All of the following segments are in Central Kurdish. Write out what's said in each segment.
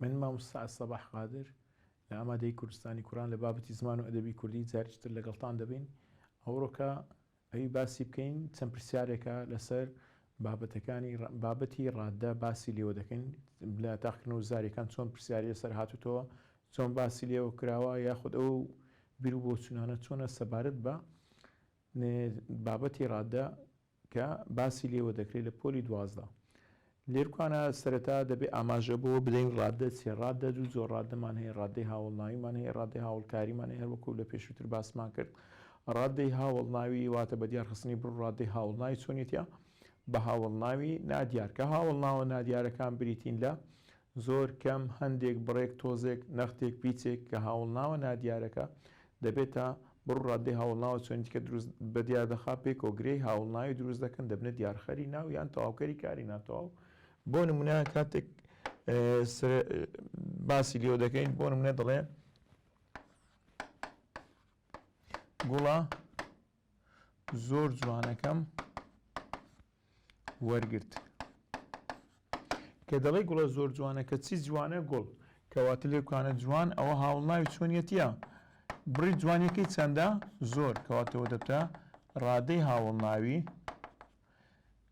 من مامۆستا الصباح قادر لە ئامادەیی کوردستانی کوران لە بابەتی زمان و ئەدەبی کوردی جاریش تر لەگەڵتان دەبین ئەوڕۆکە ئەوی باسی بکەین چەند پرسیارێکە لەسەر بابەتەکانی بابەتی ڕاددە باسی لێوە دەکەین لە تاقکردن و زاریەکان چۆن پرسیاری لەسەر هاتوتەوە چۆن باسی لێوە کراوە یاخود ئەو بیر و بۆچوونانە چۆنە سەبارەت بە بابەتی ڕاددە کە باسی لێوە دەکرێت لە پۆلی دوازدە لێرکوانە سەرەتا دەبێ ئاماژە بۆ بدەین ڕاددە چیە ڕاددە دوو جۆر ڕاددەمان هەیە ڕاددەی هاوڵناویمان هەیە ڕاددەی هاوڵکاریمان هەیە هەروەکو لە پێشووتر باسمان کرد ڕاددەی هاوڵناوی واتە بە دیار خستنی بڕ ڕاددەی هاوڵناوی چۆنێتە بە هاوڵناوی نادیار کە هاوڵناوە نادیارەکان بریتین لە زۆر کەم هەندێک بڕێک تۆزێک نەختێک پیچێک کە هاوڵناوە نادیارەکە دەبێتە بڕ و ڕادەی هاوڵناوە چۆنی دیکە دروست بە دیار دەخا پێی کۆگرەی هاوڵناوی دروست دەکەن دەبنە دیارخەری ناو یان تەواوکەری کاری ناتەواو بۆ نمونە کاتێک باسی لێوە دەکەین بۆ نمونە دەڵێ گوڵە زۆر جوانەکەم وەرگرت کە دەڵی گوڵە زۆر جوانە کە چی جوانە گوڵ کەواتە لێکانە جوان ئەوە هاوڵناوی چۆنیەتە بڕی جوانەکەی چەندە زۆر کەواتەوە دەبتە ڕادەی هاوڵناوی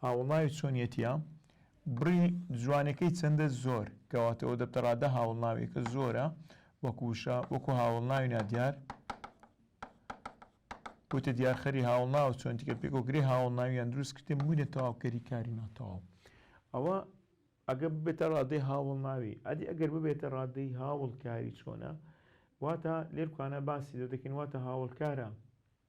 ها وڵناوی چۆنیەتیە بڕی جوانەکەی چەندە زۆر کەواتەوە دەبتەڕادە هاوڵناویەکە زۆرە وەکو وشە وەکو هاوڵناوی نادیار بۆتە دیارخەری هاوڵناو چۆن دیکە پێکۆ گرێ هاوڵناویان دروست کردێ بووینە تەواوکەری کاری ناتەواو ئەوە ئەگە ببێتە ڕادەی هاوڵناوی ئەدی ئەگەر ببێتە ڕادەی هاوڵکاری چۆنە واتە لێرکانە باسی دە دەکەین واتە هاوڵکارە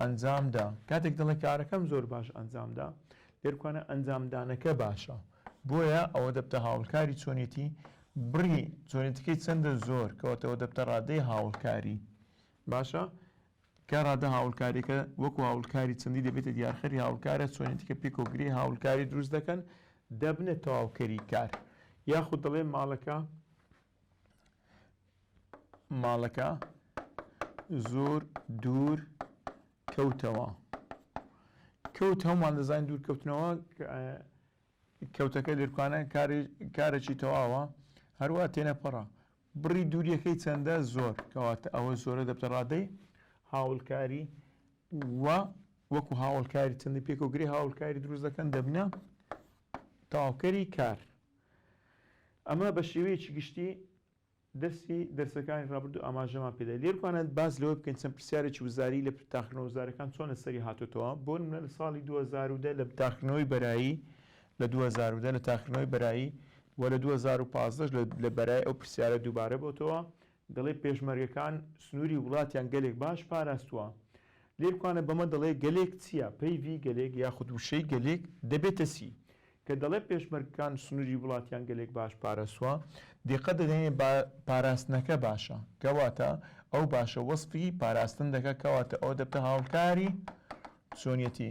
ئەنجام دا کاتێک دەڵێ کارەکەم زۆر باش ئەنجام دا لێرکوانە ئەنجامدانەکە باشە بۆیە ئەوە دەبتە هاوڵکاری چۆنێتی بڕی چۆنێتەکەی چەندە زۆر کەوتەوە دەبتە ڕادەی هاوڵکاری باشە کە ڕادە هاوڵکاریەکە وەکو هاوڵکاری چەندی دەبێتە دیارخەری هاوڵکارە چۆنێتیکە پێکۆگری هاوڵکاری دروست دەکەن دەبنە تەواوکەری کار یاخود دەڵێ ماڵەکە ماڵەکە زۆر دوور کەوتەوە کەوت هەمووان دەزانین دوور کەوتنەوە کەوتەکە لێرکانە کارێکی تەواوە هەروە تێنەپەڕە بڕی دووریەکەی چەندە زۆر کەواتە ئەوە زۆرە دەبتە ڕادەی هاوڵکاری و وەکو هاوڵکاری چەندی پێکەوەگری هاوڵکاری دروست دەکەن دەبنە تاوکەری کار ئەمە بە شێوەیەکی گشتی دەرسی دەرسەکانی ڕابردوو ئاماژەمان پێدا. لێرپانە باس لەوە بکەین چەند پرسیارێکی وزاری لە تاقیکردنەوە وزارەکان چۆن لەسەری هاتۆتەوە، بۆ نمونە لە ساڵی دوو هەزار و دە لە تاقیکردنەوەی بەرایی لە دوو هەزار و دە لە تاقیکردنەوەی بەرایی و لە دوو هەزار و پازدە ش لە بەرای ئەو پرسیارە دووبارە بۆتەوە دەڵێ پێشمەرگەکان سنووری وڵاتیان گەلێک باش پاراستووە. لێرکوانە بەمە دەڵێ گەلێک چییە؟ پەیڤی گەلێک یاخود وشەی گەلێک دەبێتە چی؟ کە دەڵێ پێشمەرگەکان سنووری وڵاتیان گەلێک باش پاراستووە، دیقەت دەدەینێ با پاراستنەکە باشە، کەواتە ئەو باشە وەسفی پاراستن دەکا، کەواتە ئەوە دەبتە هاوکاری چۆنیەتی.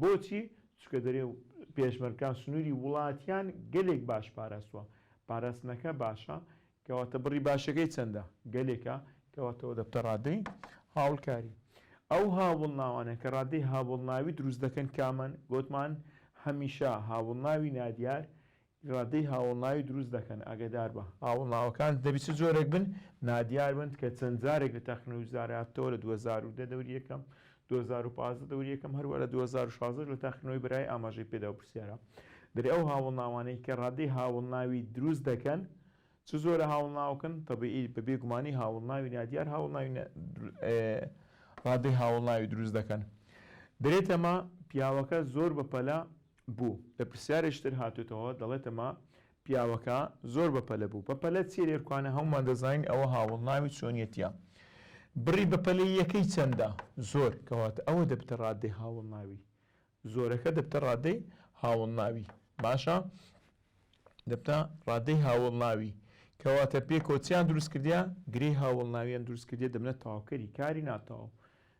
بۆچی؟ چونکە دەرێ پێشمەرگان سنووری وڵاتیان گەلێک باش پاراستووە، پاراستنەکە باشە، کەواتە بڕی باشەکەی چەندە؟ گەلێکە، کەواتە ئەوە دەبتە ڕادەی هاوڵکاری. ئەو هاوڵناوانە کە ڕادەی هاوڵناوی دروست دەکەن کامەن؟ گۆتمان هەمیشە هاوڵناوی نادیار ڕادەی هاوڵناوی دروست دەکەن ئاگەداربە. هاوڵناوەکانت دەبی چ جۆرێک بن نادیار بن تکە چەند جارێک لە تاقی نەوجدار هاتووە لە دوو هەزار و دە دەوری یەکەم دوو هەزار و پازدە دەوری یەکەم هەروە لە دوو هەزار و شازدە لە تاقی نۆی برای ئاماژەی پێداو پرسیارە دەری ئەو هاوڵناوانەی کە ڕادەی هاوڵناوی دروست دەکەن چ زۆرە هاوڵناوکن تەبیئی بە بێ گومانی هاوڵناوی نادیار هاوڵناوی ڕادەی هاوڵناوی دروست دەکەن دەرێ تەمە پیاوەکە زۆر بە پەلە بوو لە پرسیارێکی تر هاتۆتەوە دەڵێتەمە پیاوەکە زۆر بە پەلە بوو بە پەلە چی لێرکوانە هەمومان دەزانین ئەوە هاوڵ ناوی چۆنیەتە بڕی بە پەلی یەکەی چەندە زۆر کەواتە ئەوە دەبتە ڕادەی هاوڵ ناوی زۆرەکە دەبتە ڕادەی هاوڵ ناوی باشە دەبتە ڕادەی هاوڵ ناوی کەواتە پێکۆچیان دروستکردیا گرێ هاوڵ ناویان دروستکردێ دەبنە تاوکەری کاری ناتاو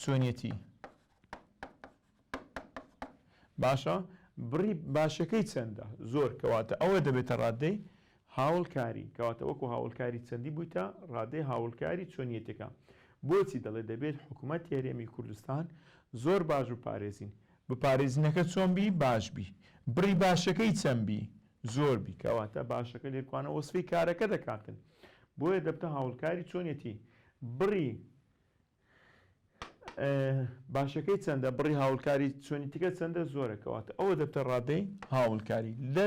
چۆنیەتی باشە بڕی باشەکەی چەندە زۆر کەواتە ئەوە دەبێتە ڕادەی هاوڵکاری کەواتە وەکو هاوڵکاری چەندی بوویتە ڕادەی هاوڵکاری چۆنیەتەکە بۆچی دەڵێ دەبێت حکوومەت هێرێمی کوردستان زۆر باش و پارێزین بپارێزینەکە چۆن بی باش بی بڕی باشەکەی چەند بی زۆر بی کەواتە باشەکە لێکوانە وەسفی کارەکە دەکاتن بۆیە دەبتە هاوڵکاری چۆنیەتی بڕی باشەکەی چەندە بڕی هاوڵکاری چۆنی تکە چەندە زۆرە کەواتە ئەوە دەبتە ڕادەی هاوڵکاری لە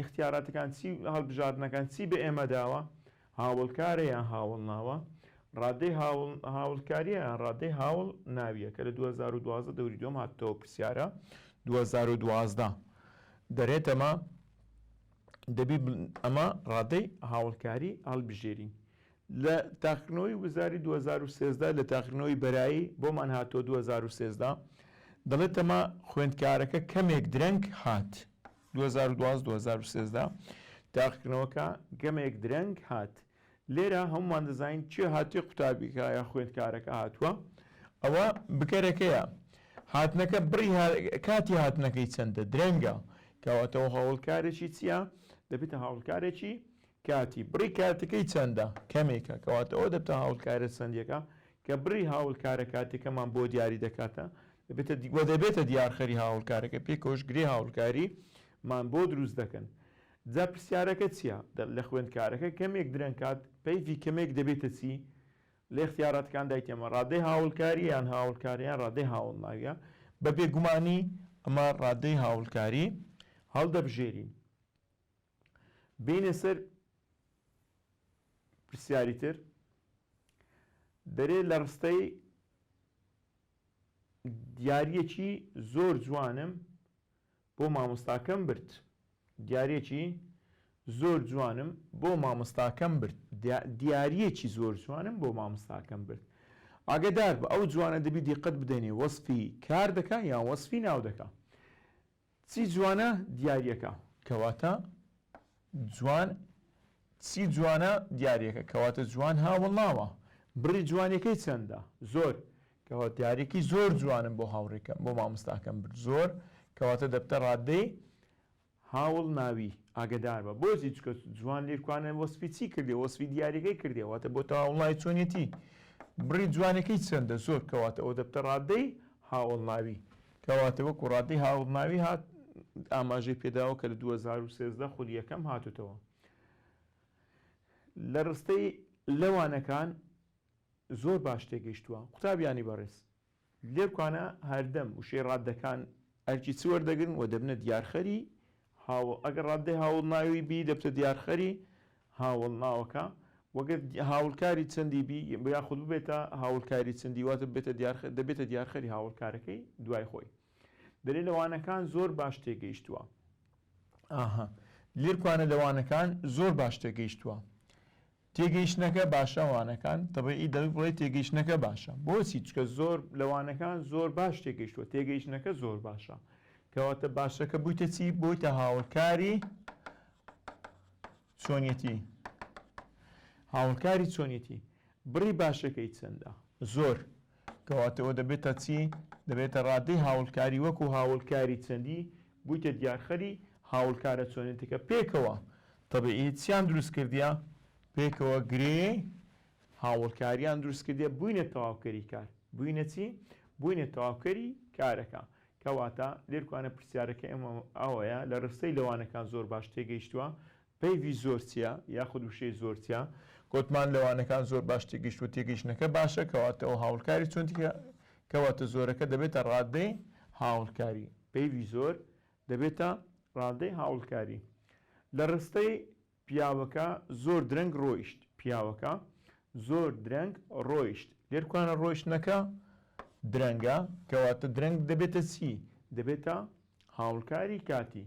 اختیاراتەکان چی هەڵبژاردنەکان چی بە ئێمە داوە هاوڵکارە یان هاوڵ ناوە ڕادەی هاوڵکاریە یان ڕادەی هاوڵ ناویە کە لە 2012 دەوری دوم هاتەوە پرسیارە 2012 دەرێتەمە دەبی ئەمە ڕادەی هاوڵکاری هەڵبژێری لە تاقیکردنەوەی وزاری دوو هەزار و سێزدە لە تاقیکردنەوەی بەرایی بۆمان هاتووە دوو هەزار و سێزدە دەڵێت تەما خوێندکارەکە کەمێک درەنگ هات دوو هەزار و دوازدە دوو هەزار و سێزدە تاقیکردنەوەکە گەمێک درەنگ هات لێرە هەمومان دەزانین چێ هاتووی قوتابیکە یا خوێندکارەکە هاتووە ئەوە بکەرەکەیە هاتنەکە بڕی کاتی هاتنەکەی چەندە درەنگە کەواتەوە هەوڵکارێکی چییە دەبێتە هاوڵکارێکی کاتی، بڕی کاتەکەی چەندە؟ کەمێکە، کەواتە ئەوە دەبتە هاوڵکارە چەندێکە، کە بڕی هاوڵکارە کاتیەکەمان بۆ دیاری دەکاتە، دەبێتە دی وە دەبێتە دیارخەری هاوڵکارەکە، پێکەوەش گرێ هاوڵکاری مان بۆ دروست دەکەن. جا پرسیارەکە چیە؟ دە لە خوێندکارەکە کەمێک درەنگ کات، پەیڤی کەمێک دەبێتە چی؟ لە ئیختیاراتەکان دای تێمە، ڕادەی هاوڵکاریە یان هاوڵکارە یان ڕادەی هاوڵناویە، بە بێگومانی ئەمە ڕادەی هاوڵکاری هەڵدەبژێرین. بێینە سەر پرسیاری تر دەرێ لە ڕستەی دیارەکی زۆر جوانم بۆ مامۆستاکەم برد دیارەکی زۆر جوانم بۆ مامۆستاکەم برد دیارەکی زۆر جوانم بۆ مامۆستاکەم برد ئاگدار بە ئەو جوانە دەبی دیقەت بدەنێ وەسفی کار دەکە یان وەسفی ناو دەکە چی جوانە دیاریەکە کەواتە جوان چی جوانە دیاریەکە کەواتە جوان هاوڵناوە بڕی جوانیەکەی چەندە زۆر کەوە دیارێکی زۆر جوانم بۆ هاوڕێکەم بۆ مامۆستاکەم برد زۆر کەواتە دەبتە ڕادەی هاوڵ ناوی ئاگدار بە بۆزی چکە جوان لێکوانە وەسفی چی کردێ وەسفی دیارەکەی کردێەوەتە بۆ تا وڵی چۆنیەتی بڕی جوانەکەی چەندە زۆر کەواتە ئەو دەبتە ڕادەی هاوڵ ناوی کەواتە وەکو ڕادەی هاوماوی هات ئاماژەی پێداوە کە لە دوو هەزار و سێزدە خولی یەکەم هاتوتەوە لە ڕستەی لەوانەکان زۆر باش تێگەیشتووە قوتابیانی بەڕێز لێکانە هەردەم وشەی ڕادەکان ئەرکی چوەردەگرن و دەبنە دیارخەری هاوڵ، ئەگەر ڕاددەی هاوڵناوی بی دەبتە دیارخەری هاوڵناوەکە، وەگەر هاوڵکاری چەندی بی یاخود ببێتە هاوڵکاری چەندی واتە ببێتە دیارخەر دەبێتە دیارخەری هاوڵکارەکەی دوای خۆی دەلێ لە وانەکان زۆر باش تێگەیشتووە. ئاها لێرکوانە لە وانەکان زۆر باش تێگەیشتووە. تێگەیشتنەکە باشە وانەکان تەبیعی دەبێت بڵێی تێگەیشتنەکە باشە بۆچی چکە زۆر لە وانەکان زۆر باش تێگەیشتوە تێگەیشتنەکە زۆر باشە کەواتە باشەکە بوویتە چی بۆیتە هاوکاری چۆنیەتی هاوکاری چۆنیەتی بڕی باشەکەی چەندە زۆر کەواتە ئەوە دەبێتە چی؟ دەبێتە ڕادەی هاوڵکاری وەکو هاوڵکاری چەندی بویتە دیارخەری هاوڵکارە چۆنێتیکە پێکەوە تەبیعی چیان دروست کردیە؟ پێکەوە گرێ هاوڵکاریان دروست کردیە بوینە تەواوکەری کار بوینە چی؟ بوینە تەواوکەری کارەکە کەواتە لێرکوانە پرسیارەکە ئێمە ئەوەیە لە ڕستەی لەوانەکان زۆر باش تێگەیشتوە پەیڤی زۆر چیە یاخود وشەی زۆر چیە؟ گۆتمان لە وانەکان زۆر باش تێگەیشتووە تێگەیشتنەکە باشە کەواتە ئەو هاوڵکاری چۆن تیکە کەواتە زۆرەکە دەبێتە ڕاددەی هاوڵکاری پەیڤی زۆر دەبێتە ڕاددەی هاوڵکاری لە ڕستەی پیاوەکە زۆر درەنگ ڕۆیشت پیاوەکە زۆر درەنگ ڕۆیشت لێر کوانە ڕۆیشتنەکە درەنگە کەواتە درەنگ دەبێتە چی دەبێتە هاوڵکاری کاتی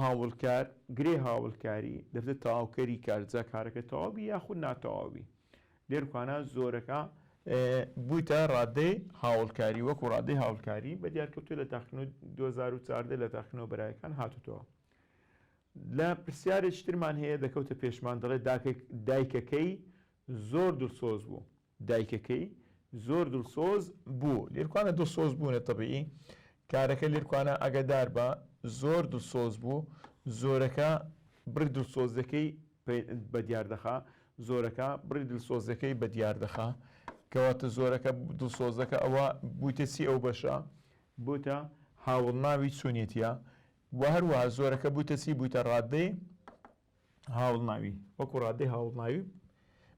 هاوڵکار، گرێ هاوڵکاری، دەبێتە تەواوکەری کار جا کارەکە تەواو بی یاخود ناتەواو بی. لێرخوانا زۆرەکە بویتە ڕادەی هاوڵکاری وەکو ڕادەی هاوڵکاری بە دیارکەوتوو لە تاقیکردنەوەی دوو هەزار و چواردە لە تاقیکردنەوە بەرایەکان هاتوتەوە. لە پرسیارێکی ترمان هەیە دەکەوتە پێشمان دەڵێت دایکەکەی زۆر دڵسۆز بوو. دایکەکەی زۆر دلسۆز بوو لێرکوانە دلسۆز بوونە تەبیعی کارەکە لێرکوانە ئاگادار بە زۆر دلسۆز بوو زۆرەکە بڕی دلسۆزەکەی بە دیار دەخا زۆرەکە بڕی دلسۆزەکەی بە دیار دەخا کەواتە زۆرەکە دلسۆزەکە ئەوە بوویتە چی ئەو بەشە بۆتە هاوڵناوی چونێتە و هەروەها زۆرەکە بوویتە چی بوویتە ڕادەی هاوڵناوی، وەکو ڕادەی هاوڵناوی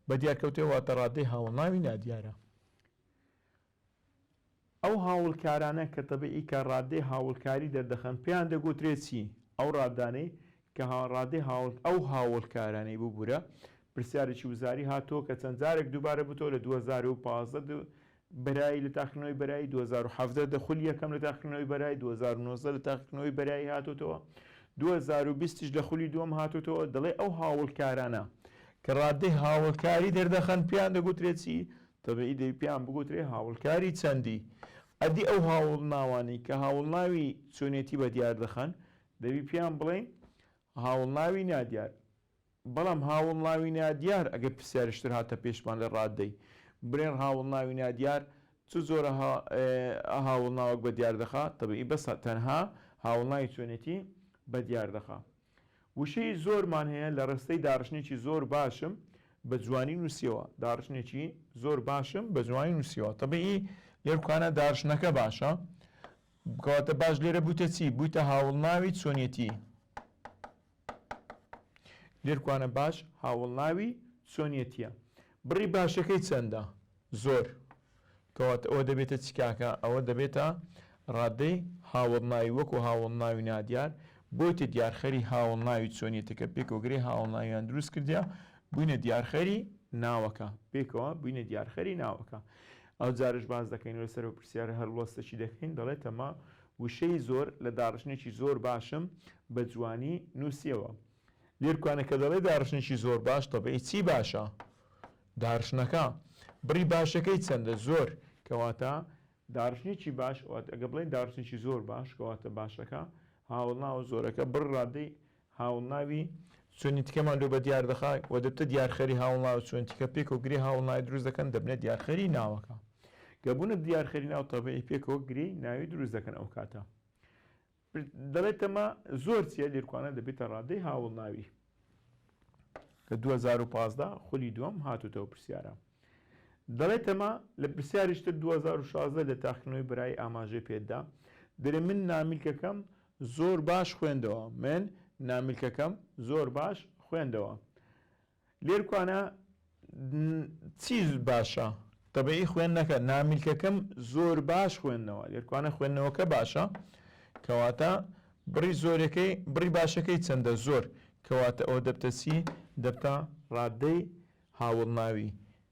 بەدیار کەوتێ واتە ڕادەی هاوڵناوی نادیارە. ئەو هاوڵکارانە کە تەبیعی کە ڕادەی هاوڵکاری دەردەخەن پێیان دەگوترێ چی؟ ئەو ڕادانەی کە ڕادەی هاوڵ ئەو هاوڵکارانەی ببورە پرسیارێکی وزاری هاتووە کە چەند جارێک دووبارە بوتەوە لە دوو هەزار و پازدە بەرایی لە تاقیکردنەوەی بەرایی دوو هەزار و حەڤدە دە خولی یەکەم لە تاقیکردنەوەی بەرایی دوو هەزار و نۆزدە لە تاقیکردنەوەی بەرایی هاتۆتەوە دوو هەزار و بیست یش لە خولی دووەم هاتۆتەوە دەڵێ ئەو هاوڵکارانە کە ڕادەی هاوڵکاری دەردەخەن پێیان دەگوترێ چی تەبیعی دەبی پێیان بگوترێ هاوڵکاری چەندی ئەدی ئەو هاوڵناوانەی کە هاوڵناوی چۆنێتی بە دیار دەخەن دەبی پێیان بڵێین هاوڵناوی نادیار بەڵام هاوڵناوی نادیار ئەگەر پرسیاریش تر هاتە پێشمان لە ڕاددەی برێن هاوڵناوی نادیار چ جۆرە هاوڵناوەک بە دیار دەخا تەبیی بەس تەنها هاوڵناوی چۆنێتی بە دیار دەخا. وشەی زۆرمان هەیە لە ڕستەی داڕشنێکی زۆر باشم بە جوانی نووسیەوە داڕشنێکی زۆر باشم بە جوانی نووسیەوە تەبیی لێر کوانە داڕشنەکە باشە کەواتە باش لێرە بوویتە چی بوویتە هاوڵناوی چۆنێتی لێرکوانە باش هاوەڵناوی چۆنیەتییە. بڕی باشەکەی چەندە؟ زۆر. کەواتە ئەوە دەبێتە چ کاکە؟ ئەوە دەبێتە ڕادەی هاوەڵناوی وەکوو هاوەڵناوی نادیار بۆیتە دیارخەری هاوەڵناوی چۆنیەتەکە پێکەوەگرێ هاوەڵناویان دروست کردیە بووینە دیارخەری ناوەکە پێکەوە بووینە دیارخەری ناوەکە ئەو جارش باس دەکەین لەسەر و پرسیارە هەڵوەستەچی دەکەین دەڵێتەمە وشەی زۆر لە داڕشتنێکی زۆر باشم بە جوانی نووسیەوە. لێرکوانە کە دەڵێ داڕشتنێکی زۆر باش تەبعی چی باشە؟ داڕشتنەکە. بڕی باشەکەی چەندە؟ زۆر. کەواتە داڕشتنێکی باش واتە ئەگەر بڵێین داڕشتنێکی زۆر باش کەواتە باشەکە هاوەڵناوە زۆرەکە بڕ ڕادەی هاوڵناوی چۆنی تکەمان لۆ بەدیار دەخا و دەبتە دیارخەری هاوڵناو چۆن تکە پێکەوە گرێ هاوڵناوی دروست دەکەن دەبنە دیارخەری ناوەکە گە بوونە دیارخەری ناو تەبعی پێکەوە گرێی ناوی دروست دەکەن ئەو کاتە دەڵێتەمە زۆر چیە لێرکوانە دەبێتە ڕادەی هاوڵناوی لە 2015 خولی دووەم هاتوتەوە پرسیارە دەڵێتەمە لە پرسیاریشتر 2016 لە تاخنەوەی برای ئاماژەی پێدا دەێ من نامیلکەکەم زۆر باش خوێندەوە من نامیلکەکەم زۆر باش خوێندەوە لێرکوانە چی باشە تەبعی خوێندنەکە نامیلکەکەم زۆر باش خوێندنەوە لێرکوانە خوێندنەوەکە باشە کەواتە بڕی زۆرەکەی بڕی باشەکەی چەندە زۆر کەواتە ئەوە دەبتەسی دەبتە ڕادەی هاوڵناوی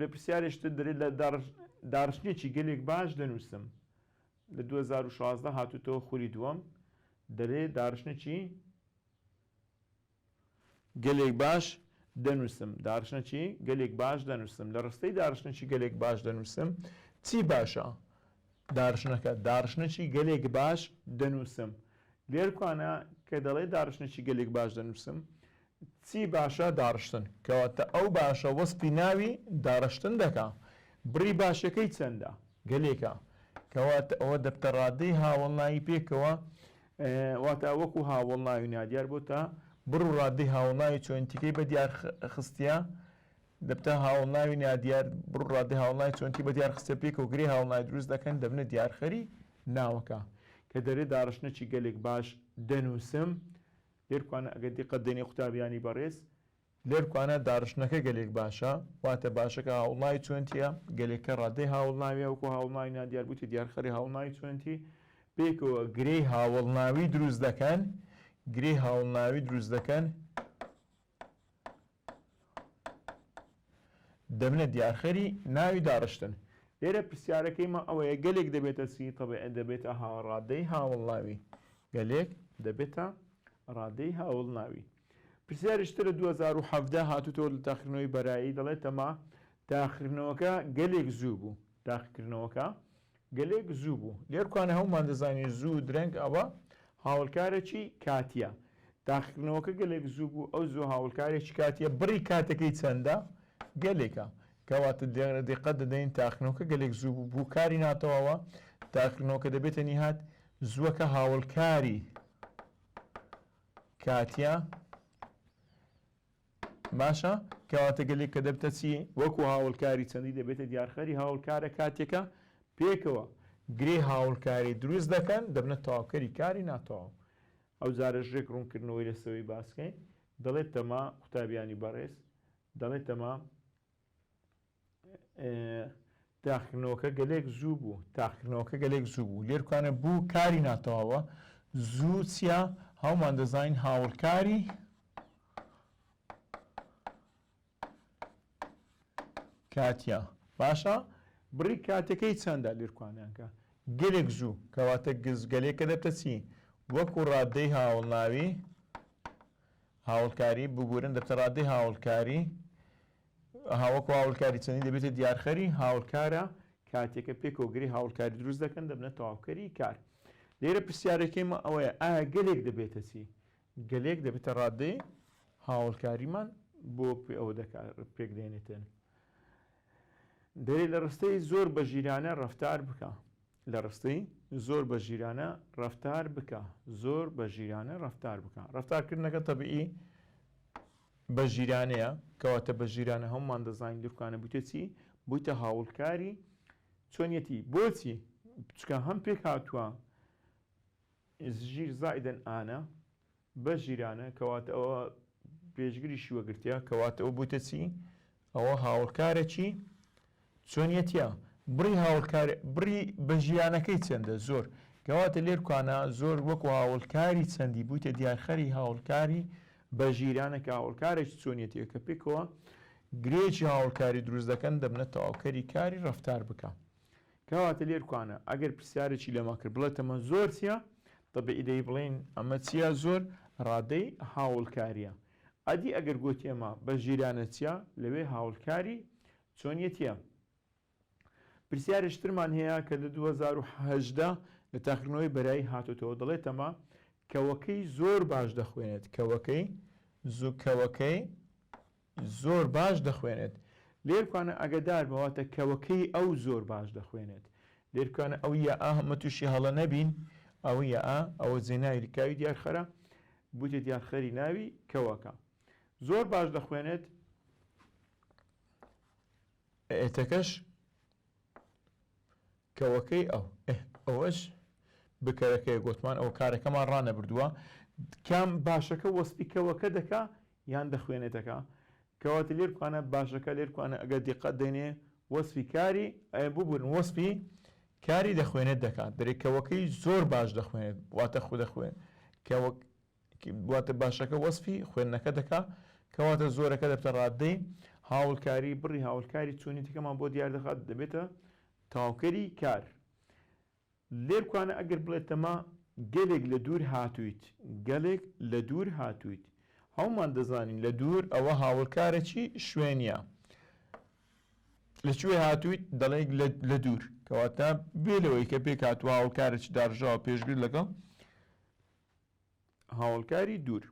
لە پرسیارێکی تر دەلێت لە داڕشتنێکی گەلێک باش دەنووسم لە دوو هەزار و شازدە هاتووتەوە خولی دووەم دەلێ داڕشتنێکی گەلێک باش دەنووسم داڕشتنێکی گەلێک باش دەنووسم لە ڕستەی داڕشتنێکی گەلێک باش دەنووسم چی باشە دارشنەکە، دارشنەکی گەلێک باش دەنووسم، لێرکوانە کە دەڵێ دارشنەکی گەلێک باش دەنووسم چی باشە دارشتن کەواتە ئەو باشە وەسپی ناوی دارشتن دەکا بڕی باشەکەی چەندە گەلێکە کەواتە ئەوە دەبتە ڕادەی هاوەڵناوی پێکەوە واتە وەکو هاوەڵناوی نادیار بۆتە بڕ و ڕادەی هاوەڵناوی چۆنتیکەی بە دیار خستە دەبتە هاوڵناوی نادیار، بڕ و ڕادەی هاوڵناوی چۆنکی بە دیار خستە پێکەوە گرێ هاوڵناوی دروست دەکەن دەبنە دیارخەری ناوەکە. کە دەرێ داڕشتنەکی گەلێک باش دەنووسم. لێرکوانە ئەگەر دیقەت دەینێ قوتابیانی بەڕێز. لێرکوانە داڕشتنەکە گەلێک باشە، واتە باشەکە هاوڵناوی چۆنکییە، گەلێکە ڕادەی هاوڵناوییە وەکوو هاوڵناوی نادیار بوویتە دیارخەری هاوڵناوی چۆنکی، پێکەوە گرێی هاوڵناوی دروست دەکەن، گرێی هاوڵناوی دروست دەکەن، دەبنە دیارخەری ناوی داڕشتن. لێرە پرسیارەکەی مە ئەوەیە گەلێک دەبێتە چی تەبعێ دەبێتە ها ڕادەی هاوڵناوی گەلێک دەبێتە ڕادەی هاوڵناوی پرسیاریش ترە 2017 هاتوتەوە لە تاخکردنەوەی بەرایی دەڵێتەما تاخکردنەوەکە گەلێک زوو بوو تاخکردنەوەکە گەلێک زوو بوو لێرکوانە هەموومان دەزانین زوو درەنگ ئەوە هاولکارەکی کاتیە تاقیکردنەوەکە گەلێک زوو بوو ئەو زوو هاولکارێکی کاتیە بڕی کاتەکەی چەندە گەلێکە کەواتە دقەت دەدەین تاقنەوەکە گەلێک زوو بوو بوو کاری ناتەواوە تاقنەوەکە دەبێتە نیهات زووەکە هاولکاری کاتیە باشە کەواتە گەلێک کە دەبتە چی؟ وەکو هاوڵکاری چەندی دەبێتە دیارخەری هاوڵکارە کاتێکە پێکەوە گرێ هاوڵکاری دروست دەکەن دەبنە تەواوکەری کاری ناتەواو ئەو جارە ژێک ڕوونکردنەوەی لەسەوەی باسکەین دەڵێت تەما قوتابیانی بەڕێز دەڵێت تەما تاقیکردنەوەکە گەلێک زوو بوو تاقیکردنەوەکە گەلێک زوو بوو لێرکانە بوو کاری ناتەواوە زوو چیا هەومان دەزانین هاوڵکاری کاتیا باشە بڕی کاتەکەی چەندە لێرکانیانکە گەلێک زوو کەواتە گزگەلێکە دەبتە چی وەکو ڕادەی هاوڵناوی هاوڵکاری بگورن دەبتە ڕادەی هاوڵکاری هاوکو هاوڵکاری چەندین دەبێتە دیارخەری هاوڵکارە کاتێکە پێ کۆگری هاوڵکاری دروست دەکەن دەبنە تەواوکەری کار لێرە پرسیارەکەیمە ئەوەیە ئایا گەلێک دەبێتە چی گەلێک دەبێتە ڕادەی هاوڵکاریمان بۆ پێ ئەوە دەکار پێک دێنێتێن دەێ لە ڕستەی زۆر بە ژیرانە ڕفتار بکە لە ڕستەی زۆر بە ژیرانە ڕفتار بکە زۆر بە ژیرانە ڕفتار بکە ڕفتارکردنەکە تەبیعی بە ژیرانەیە کەواتە بە ژیرانە هەموومان دەزانین دورکانە بوویتە چی بوویتە هاوڵکاری چۆنیەتی بۆچی چکە هەم پێک هاتووە ژیر زائیدەن ئانە بە ژیرانە کەواتە ئەوە پێشگری شیوەگرتە کەواتە ئەو بوویتە چی ئەوە هاوڕکارەکی چۆنیەتیە بڕی هاوڕکار بڕی بەژیانەکەی چەندە زۆر کەواتە لێرکانە زۆر وەکو هاوڵکاری چەندی بوویتە دیارخەری هاوڵکاری بە ژیرانە کە هاوڵکارێک چۆنیەتیە کە پێکەوە گرێکی هاوڵکاری دروست دەکەن دەبنە تەواوکەری کاری ڕفتار بکە کەواتە لێرکانە ئەگەر پرسیارێکی لەما کرد بڵێت تەمە زۆر چیە طبعی دەی بڵین ئەمە چیە زۆر ڕادەی هاوڵکاریە ئەدی ئەگەر گۆتێما بە ژیرانە چیە لەوێ هاوڵکاری چۆنیەتیە؟ پرسیارێش ترمان هەیە کە دە دوو هەزار و هەژدە لە تاقیکردنەوەی بەرایی هاتۆتەوە دەڵێتەمە کەوەکەی زۆر باش دەخوێنێت کەوەکەی زو کەوەکەی زۆر باش دەخوێنێت لێرکانە ئەگەدار بەواتە کەوەکەی ئەو زۆر باش دەخوێنێت لێرکانە ئەو یە ئاهمە تووشی هەڵە نەبین ئەوە ئا ئەوە زێناوی لکاوی دیارخەرە بوتێت یان خەری ناوی کەوەکە. زۆر باش دەخوێنێت. ئەتەکەش کەوەکەی ئەو ئه ئەوەش بکەرەکەی گۆتمان ئەوە کارەکەمان ڕانەبردووە کام باشەکە وەسپی کەوەکە دەکا یان دەخوێنێتەکە کەواتە لێرکوانە باشەکە لێرکوانە ئەگەر دیقەت دەینێ وەسفی کاری ئەێ ببورن وەسفی کاری دەخوێنێت دەکات درێکەوەکەی زۆر باش دەخوێنێت واتە خو دەخوێن کەوەک واتە باشەکە وەسفی خوێندنەکە دەکا کەواتە زۆرەکە دەبتە ڕاددەی هاوڵکاری بڕی هاوڵکاری چوونی تکەمان بۆ دیار دەخات دەبێتە تاوکەری کار لێرکوانە ئەگەر بڵێتەمە گەلێک لە دوور هاتوویت، گەلێک لە دوور هاتوویت. هەموومان دەزانین لە دوور ئەوە هاوەڵکارە چی شوێنییە. لە کوێ هاتوویت؟ دەڵێیت لە دوور. کەواتە بێ لەوەی کە پێکهاتوو هاوەڵکارە چ داڕژاوە پێشگر لەگەڵ. هاوەڵکاری دوور.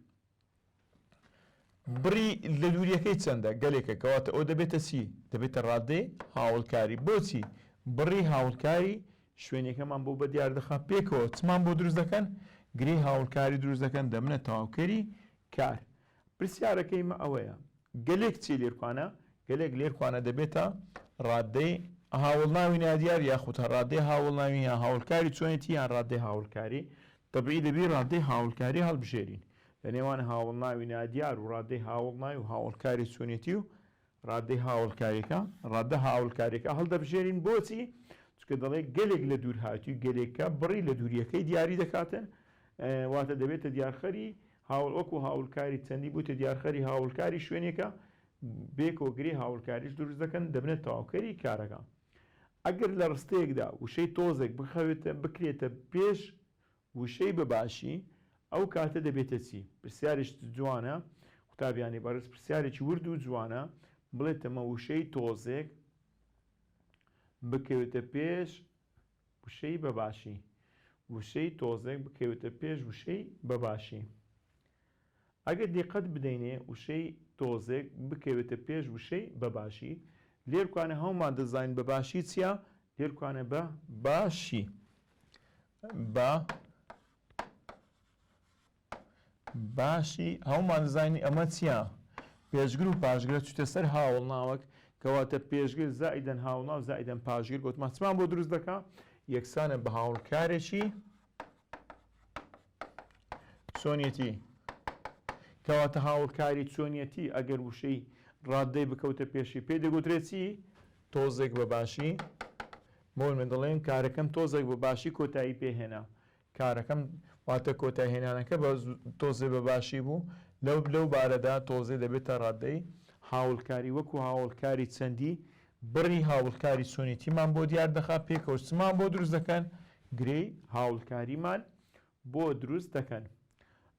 بڕی لە دوورییەکەی چەندە؟ گەلێکە، کەواتە ئۆ دەبێتە چی؟ دەبێتە ڕادەی هاوەڵکاری. بۆچی؟ بڕی هاوەڵکاری شوێنەکەمان بۆ بەدیاردەخا پێکەوە چمان بۆ دروست دەکەن؟ گرێی هاوەڵکاری دروست دەکەن، دەبنە تەواوکەری کار. پرسیارەکەی مە ئەوەیە گەلێک چیە لێرکوانە؟ گەلێک لێرکوانە دەبێتە ڕادەی هاوەڵناوی نادیار یاخود ڕادەی هاوەڵناوی یان هاوەڵکاری چۆنێتی یان ڕادەی هاوەڵکاری تەبیعی دەبی ڕادەی هاوەڵکاری هەڵبژێرین لە نێوان هاوەڵناوی نادیار و ڕادەی هاوەڵناوی و هاوەڵکاری چۆنێتی و ڕادەی هاوەڵکاریەکە، ڕادە هاوەڵکاریەکە هەڵدەبژێرین بۆچی؟ چونکە دەڵێ گەلێک لە دوورهاتووی گەلێکە بڕی لە دووریەکەی دیاری دەکاتە واتە دەبێتە دیارخەری هاوڵ وەکو هاوڵکاری چەندی بووتە دیارخەری هاوڵکاری شوێنێکە بێ کۆگری هاوڵکاریش دروست دەکەن دەبنە تاوکەری کارەکە ئەگەر لە ڕستەیەکدا وشەی تۆزێک بخەوێتە بکرێتە پێش وشەی بە باشی ئەو کاتە دەبێتە چی؟ پرسیارێشت جوانە قوتابیانی بەڕێز پرسیارێکی ورد و جوانە بڵێتەمە وشەی تۆزێک بکەوێتە پێش وشەی بە باشی وشەی تۆزێک بکەوێتە پێش وشەی بە باشی ئەگەر دیقەت بدەینێ وشەی تۆزێک بکەوێتە پێش وشەی بە باشی لێرکانە هەومان دەزانین بە باشی چیە لێرکانە بە باشی بە باشی هەومان زانی ئەمە چیە پێشگر و پاشگرە چوتە سەر هاوڵ ناوەک کەواتە پێشگر زائیدەن هاوڵناو زائیدەن پاشگر گوتمانچمان بۆ دروست دەکا یەکسانە بە هاوڵکارێکی چۆنیەتی کەواتە هاوڵکاری چۆنیەتی ئەگەر وشەی ڕاددەی بکەوتە پێشی پێ دەگوترێتی تۆزێک بە باشی بۆ من دەڵێن کارەکەم تۆزێک بە باشی کۆتایی پێهێنا کارەکەم واتە کۆتاهێنانەکە بە تۆزێ بە باشی بوو لەو لەو بارەدا تۆزێ دەبێتە ڕادەی هاوڵکاری وەکو هاوڵکاری چەندی بڕی هاوڵکاری چۆنێتیمان بۆ دیار دەخا پێکەوەچمان بۆ دروست دەکەن گرێی هاوڵکاریمان بۆ دروست دەکەن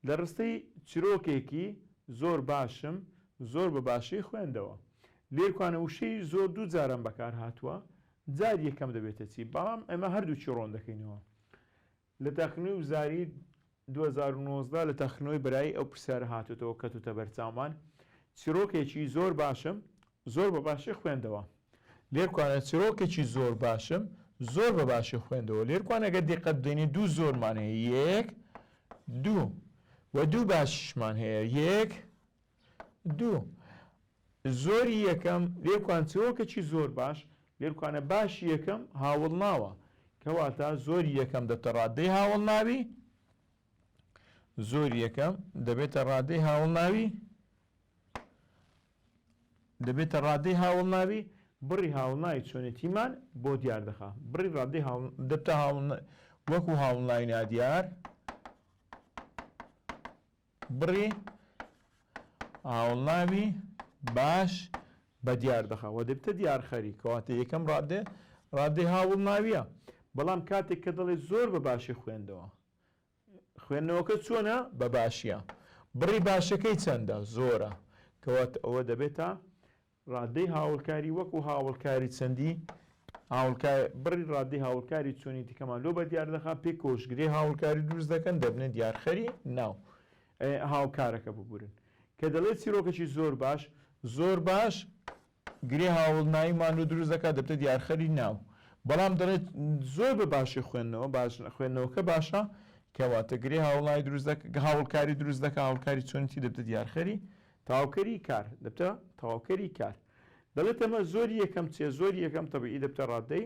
لە ڕستەی چرۆکێکی زۆر باشم زۆر بە باشی خوێندەوە لێکوانە وشەی زۆر دوو جاران بەکار هاتووە جاری یەکەم دەبێتە چی بەڵام ئێمە هەردووکی ڕۆن دەکەینەوە لە تاقیگەی وزاری دوو هەزار و نۆزدە لە تاقیگەی برای ئەو پرسیارە هاتووەتەوە کەتووتە بەرچاومان چرۆکێکی زۆر باشم زۆر بە باشی خوێندەوە لێرکوانە چیڕۆکێکی زۆر باشم زۆر بە باشی خوێندەوە لێرکوانە گە دیقەت دێنی دوو زۆرمان هەیە یەک دوو و دوو باشمان هەیە یەک دوو زۆری یەکەم لێرکوان چیرۆکێکی زۆر باش لێرکوانە باش یەکەم هاوڵ ناوە کەواتە زۆری یەکەم دەتە ڕادەی هاوڵ ناوی زۆر یەکەم دەبێتە ڕادەی هاوڵ ناوی دەبێتە ڕادەی هاوڵناوی، بڕی هاوڵناوی چۆنێتیمان بۆ دیار دەخا، بڕی ڕادەی هاوڵ دەبتە هاوڵ وەکو هاوڵناوی نادیار، بڕی هاوڵناوی باش بە دیار دەخا و دەبتە دیارخەری کەواتە یەکەم ڕادێ ڕادەی هاوڵناویە بەڵام کاتێک کە دەڵێ زۆر بە باشی خوێندەوە خوێندنەوەکە چۆنە؟ بە باشییە. بڕی باشەکەی چەندە؟ زۆرە. کەواتە ئەوە دەبێتە ڕادەی هاوڵکاری وەکو هاوڵکاری چەندی هاوڵکار بڕی ڕادەی هاوڵکاری چۆنی تیکەمان لۆ بە دیار دەخا پێی کۆشگری هاوڵکاری دروست دەکەن دەبنە دیارخەری ناو هاوکارەکە ببورن کە دەڵێت چیرۆکەکی زۆر باش زۆر باش گرێ هاوڵناوی ماندوو دروست دەکات دەبێتە دیارخەری ناو. بەڵام دەڵێت زۆر بە باشی خوێندنەوە باش خوێندنەوەکە باشە کەواتە گرێ هاوڵناوی دروست دەکات هاوڵکاری دروست دەکات هاوڵکاری چۆنیتی دەبێتە دیارخەری تەواوکەری کار دەبێتە تەواوکەری کار دەڵێت ئەمە زۆر یەکەم چێ زۆر یەکەم تەبیعی دەبێتە ڕاددەی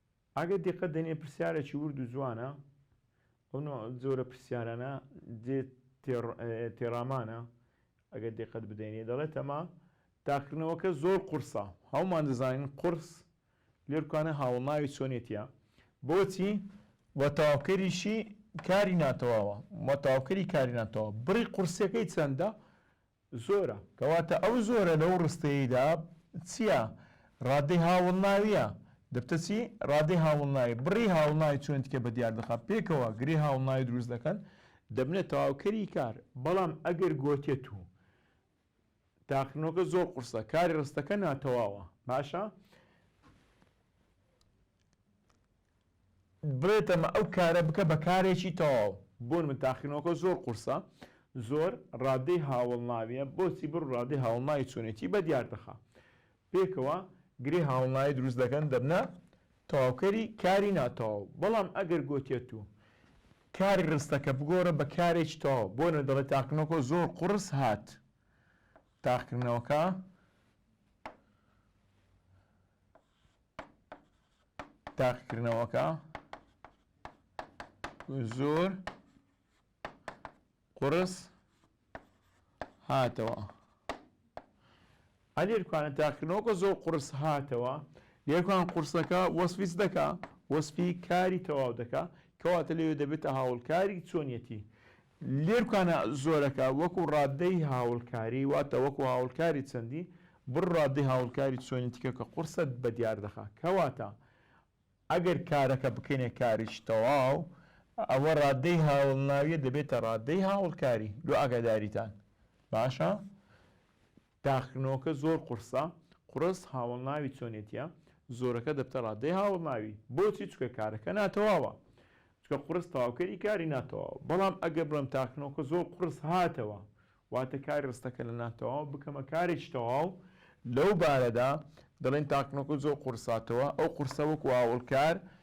ئەگەر دیقەت دەنێ پرسیارەکی ورد و جوانە، ئەو نوع جۆرە پرسیارانە جێ تێڕامانە، ئەگەر دیقەت بدەینێ دەڵێتەمە تاقیکردنەوەکە زۆر قورسە، هەومان دەزانین قورس لێرکانە هاوڵناوی چۆنێتیە، بۆچی؟ وە تەواوکەریشی کاری ناتەواوە، وە تەواوکەری کاری ناتەواو بڕی قورسیەکەی چەندە؟ زۆرە. کەواتە ئەو زۆرە لەو ڕستەیەیدا چییە؟ ڕادەی هاوڵناوییە. دەبتە چی؟ ڕادەی هاوڵناوی. بڕی هاوڵناوی چۆن تکێ بە دیار دەخا؟ پێکەوە گرێ هاوڵناوی دروست دەکەن. دەبنە تەواوکەری کار. بەڵام ئەگەر گۆتێت و تاقیکردنەوەکە زۆر قورسە، کاری ڕستەکە ناتەواوە. باشە؟ بڵێت ئەمە ئەو کارە بکە بە کارێکی تەواو. بۆ من تاقیکردنەوەکە زۆر قورسە زۆر ڕادەی هاوەڵناویە بۆچی بڕ ڕادەی هاوەڵناوی چۆنێتی بە دیار دەخا پێکەوە گرێ هاوەڵناوی دروست دەکەن دەبنە تەواوکەری کاری ناتەواو بەڵام ئەگەر گۆتیە تو کاری ڕستەکە بگۆڕە بە کارێکی تەواو بۆ نە دەڵێ تاقنەکە زۆر قڕس هات تاقکردنەوەکە تاقیکردنەوەکە زۆر قڕس هاتەوە ئەلێرکانە تاقیکردنەوەکە زۆر قڕس هاتەوە لێرکان قورسەکە وەسفیس دەکا وەسفی کاری تەواو دەکا کەواتە لەوێ دەبێتە هاوڵکاری چۆنیەتی لێرکانە زۆرەکە وەکو ڕاددەی هاوڵکاری واتە وەکو هاوڵکاری چەندی بڕ ڕاددەی هاوڵکاری چۆنی تکە کە قوڕسە بە دیار دەخا کەواتە ئەگەر کارەکە بکەینە کاریش تەواو ئەوە ڕاددەی هاوڵناویە دەبێتە ڕاددەی هاوڵکاری لۆ ئاگاداریتان باشە؟ تاقیکردنەوەکە زۆر قورسە، قوڕس هاوەڵناوی چۆنێتییە زۆرەکە دەبتە ڕادەی هاوەڵناوی. بۆچی؟ چونکە کارەکە ناتەواوە. چونکە قوڕس تەواوکەری کاری ناتەواوە. بەڵام ئەگەر بڵێم تاقیکردنەوەکە زۆر قوڕس هاتەوە، واتە کاری ڕستەکە لە ناتەواو بکەمە کارێکی تەواو، لەو بارەدا دەڵێین تاقیکردنەوەکە زۆر قوڕس هاتەوە، ئەو قوڕسە وەکو هاوەڵکار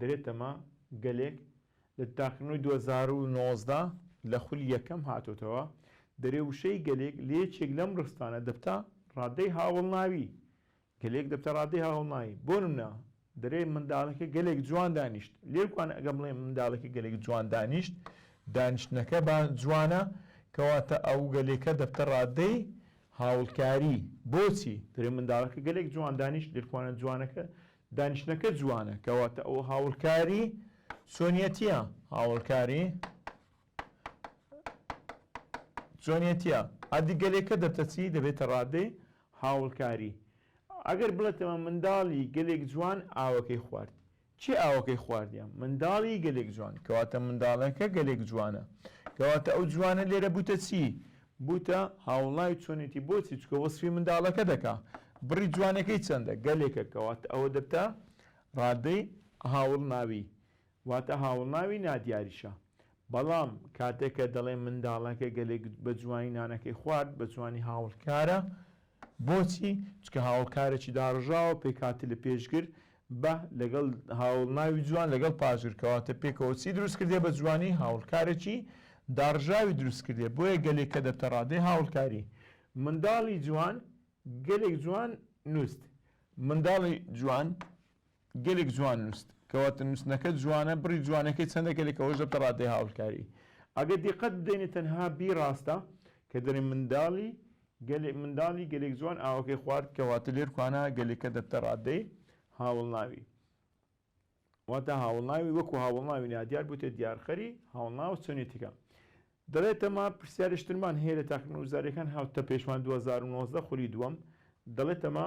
درێ تەمە گەلێک لە تاقیکردنەوەی دوو هەزار و نۆزدە لە خولی یەکەم هاتۆتەوە، درێ وشەی گەلێک لە یەکێک لەم ڕستانە دەبتە ڕادەی هاوەڵناوی، گەلێک دەبتە ڕادەی هاوەڵناوی، بۆ نمونە، درێ منداڵەکە گەلێک جوان دانیشت، لێرکوان ئەگەر بڵێین منداڵەکە گەلێک جوان دانیشت، دانیشتنەکە با جوانە، کەواتە ئەو گەلێکە دەبتە ڕادەی هاوڵکاری، بۆچی؟ درێ منداڵەکە گەلێک جوان دانیشت، لێرکوانە جوانەکە دانیشتنەکە جوانە کەواتە ئەوە هاوڵکاری چۆنیەتیە هاوڵکاری چۆنیەتیە ئەدی گەلێکە دەتەچی دەبێتە ڕادەی هاوڵکاری ئەگەر بڵێتەوە منداڵی گەلێک جوان ئاوەکەی خوارد چی ئاوەکەی خواردیان منداڵی گەلێک جوان کەواتە منداڵەکە گەلێک جوانە کەواتە ئەو جوانە لێرە بوتە چی بوتە هاوڵای چۆنێتی بۆچی چکە وەسفی منداڵەکە دەکا بڕی جوانەکەی چەندە گەلێکە کەواتە ئەوە دەبتە ڕادەی هاوڵناوی واتە هاوڵناوی نادیاریشە بەڵام کاتێکە دەڵێ منداڵەکە گەلێک بە جوانی نانەکەی خوارد بە جوانی هاوڵکارە بۆچی؟ چونکە هاوکارێکی داڕژاوە پێکهاتە لە پێشگر، بە، لەگەڵ، هاوەڵناوی جوان لەگەڵ پاشگر، کەواتە پێکەوە چی دروست کردیە بە جوانی؟ هاوەڵکارێکی داڕژاوی دروست کردیە، بۆیە گەلێک کە دەبتە ڕادەی هاوەڵکاری. منداڵی جوان گەلێک جوان نووست. منداڵی جوان. گەلێک جوان نوست کەواتە نوستنەکەت جوانە بڕی جوانەکەی چەندە گەلێک ئەوەش دەبتە ڕادەی هاوکاری ئەگەر دیقەت بدەینێ تەنها بی ڕاستە کە دەرێ منداڵی گەلێ منداڵی گەلێک جوان ئاوەکەی خوارد کەواتە لێر کوانا گەلێکە دەبتە ڕادەی هاوڵناوی واتە هاوڵناوی وەکو هاوڵناوی نادیار بوتە دیارخەری هاوڵناو چۆنێتیکە دەڵێتەما پرسیارشترمان هەیە لە تاقیکردنەوە وزاریەکان هاوتە پێشمان 2019 خولی دووەم دەڵێتەما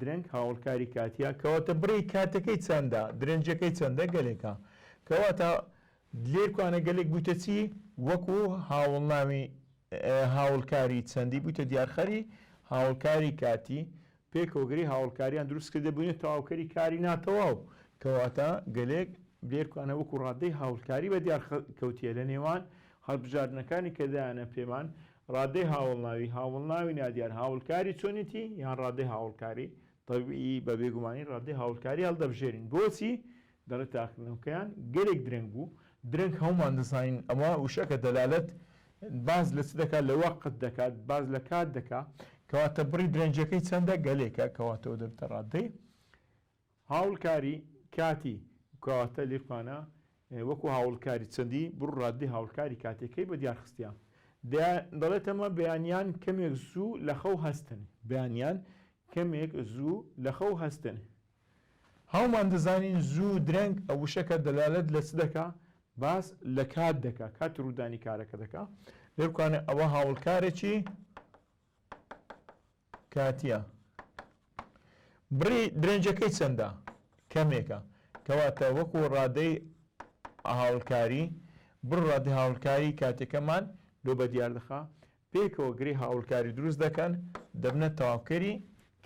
درەنگ هاوڵکاری کاتیە کەواتە بڕی کاتەکەی چەندە درەنجەکەی چەندە گەلێکە کەواتە لێرکوانە گەلێک بویتە چی وەکو هاوڵناوی هاوڵکاری چەندی بویتە دیارخەری هاوڵکاری کاتی پێکەوەگری هاوڵکاریان دروست کردە بوینە تەواوکەری کاری ناتەواو کەواتە گەلێک لێرکوانە وەکو ڕادەی هاوڵکاری بە دیار کەوتیە لە نێوان هەڵبژاردنەکانی کە دایانە پێمان ڕادەی هاوڵناوی، هاوڵناوی نادیار هاوڵکاری چۆنێتی یان ڕادەی هاوڵکاری، طبیعی، بە بێگومانی ڕادەی هاوڵکاری هەڵدەبژێرین. بۆچی؟ دەڵێت تاقیکردنەوەکەیان گەلێک درەنگ بوو. درەنگ هەموومان دەزانین ئەمە وشەکە دەلالەت باس لە چ دەکات؟ لە وەقت دەکات، باس لە کات دەکات. کەواتە بڕی درەنگییەکەی چەندە؟ گەلێکە. کەواتە ئەوە دەبێتە ڕادەی هاوڵکاری کاتی، کەواتە لیقمانە وەکو هاوڵکاری چەندی، بڕ ڕاددەی هاوڵکاری کاتیەکەی بە دیار خستیە. دەیان دەڵێت ئەمە بەیانیان کەمێک زوو لە خەو هەستن. بەیانیان کەمێک زوو لە خەو هەستن. هەومان دەزانین زوو درەنگ ئە وشەکە دەلالەت لە چ دەکا؟ باس لە کات دەکا، کاتی ڕوودانی کارەکە دەکا. لیقمانە ئەوە هاوڵکارێکی. کاتییە. بڕی درێنجەکەی چەندە؟ کەمێکە. کەواتە وەکوو ڕادەی هاوڵکاری، بڕ ڕادەی هاوڵکاری کاتییەکەمان لۆ بە دیار دەخا. پێکەوە گرێی هاوڵکاری دروست دەکەن، دەبنە تەواوکەری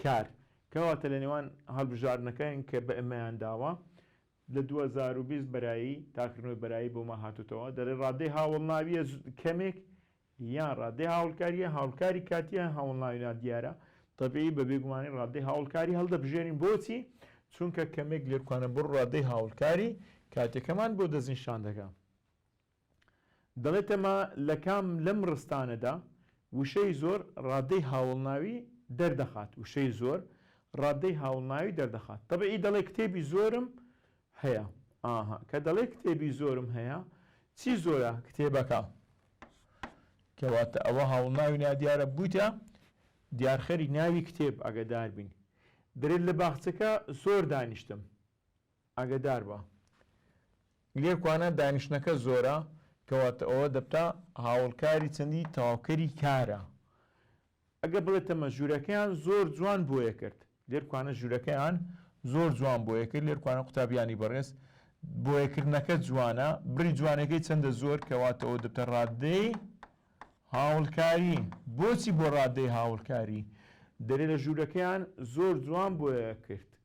کار. کەواتە لە نێوان هەڵبژاردنەکان کە بئێمەیان داوە، لە دوو هەزار و بیست بەرایی، تاکردنەوەی بەرایی بۆمان هاتۆتەوە، دەڵێ ڕادەی هاوڵناوییە کەمێک یان ڕادەی هاوڵکارییە، هاوڵکاری کاتییە، هاوڵناوی نادیارە، تەبیعی، بە بێگومانی ڕادەی هاوڵکاری هەڵدەبژێرین، بۆچی؟ چونکە کەمێک لێکوانەبڕ ڕادەی هاوڵکاری کاتییەکەمان بۆ دەستنیشان دەکا. دەڵێتەما لە کام لەم ڕستانەدا وشەی زۆر ڕادەی هاوڵناوی دەردەخات؟ وشەی زۆر ڕادەی هاوڵناوی دەردەخات. تەبیعی دەڵێ کتێبی زۆرم هەیە. ئاها. کە دەڵێی کتێبی زۆرم هەیە، چی زۆرە؟ کتێبەکە. کەواتە ئەوە هاوڵناوی نادیارە بوویتە دیارخەری ناوی کتێب، ئاگەدار بین. دەلێت لە باخچەکە زۆر دانیشتم. ئاگەدار بە. لێکوانە دانیشتنەکە زۆرە، کەواتە ئەوە دەبتە هاوڵکاری چەندی تەواوکەری کارە. ئەگە بڵێ تەمە ژورەکەیان زۆر جوان بۆیە کرد لێرکوانە ژورەکەیان زۆر جوان بۆیە کرد لێرکوانە قوتابیانی بەڕێز بۆیە کردنەکە جوانە بڕی جوانەکەی چەندە زۆر کەواتەوە دەبتە ڕاددەی هاوڵکاری بۆچی بۆ ڕاددەی هاوڵکاری دەرێ لە ژورەکەیان زۆر جوان بۆیە کرد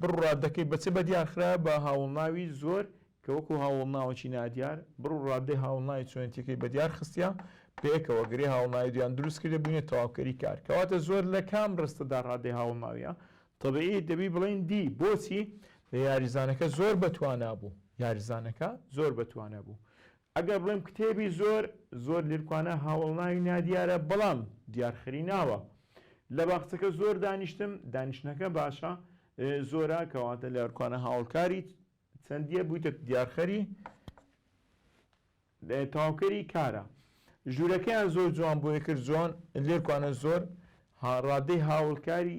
بڕ ڕاددەکەی بە چ بەدیار خرایە بە هاوڵناوی زۆر کە وەکو هاوڵناوەکی نادیار، بڕ و ڕاددەی هاوڵناوی چۆنێتیەکەی بەدیار خستیە پێکەوە گرێ هاوڵناوی دویان دروست کردە بوینە تەواوکەری کار کەواتە زۆر لە کام ڕستەدا ڕاددەی هاوڵناویە طبیعی دەبی بڵێین دی بۆچی یاریزانەکە زۆر بەتوانابوو یاریزانەکە زۆر بەتوانابوو ئەگەر بڵێم کتێبی زۆر زۆر لرکوانە هاوەڵناوی نادیارە بەڵام دیار خری ناوە لە باخچەکە زۆر دانیشتم دانیشتنەکە باشە زۆرە کەواتە لرکوانە هاوڵکاری چەندیە بویتە دیارخەری تاوکەری کارە ژوورەکەیان زۆر جوان بۆیە کرد جۆن لرکوانە زۆر ها ڕادەی هاوڵکاری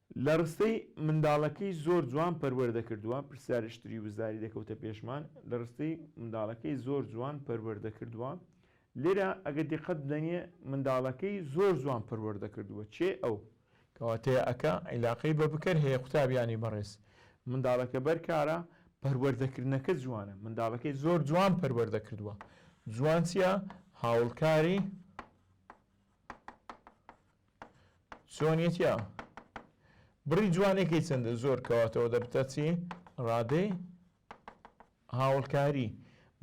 لە ڕستەی، منداڵەکەی زۆر جوان پەروەردە کردووە، پرسیاری شتری وزاری دەکەوتە پێشمان، لە ڕستەی، منداڵەکەی زۆر جوان پەروەردە کردووە، لێرە ئەگەر دیقەت بدەنیێ، منداڵەکەی زۆر جوان پەروەردە کردووە، چێ ئەو؟ کەواتە یەەکە عیلاقەی بە بکەر هەیە قوتابیانی بەڕێز، منداڵەکە بەر کارە، پەروەردەکردنەکە جوانە، منداڵەکەی زۆر جوان پەروەردە کردووە، جوان چیە؟ هاوڵکاری. چۆنیەتیا بڕی جوانەکەی چەندە زۆر کەواتەوە دەبتە چی ڕادەی هاوڵکاری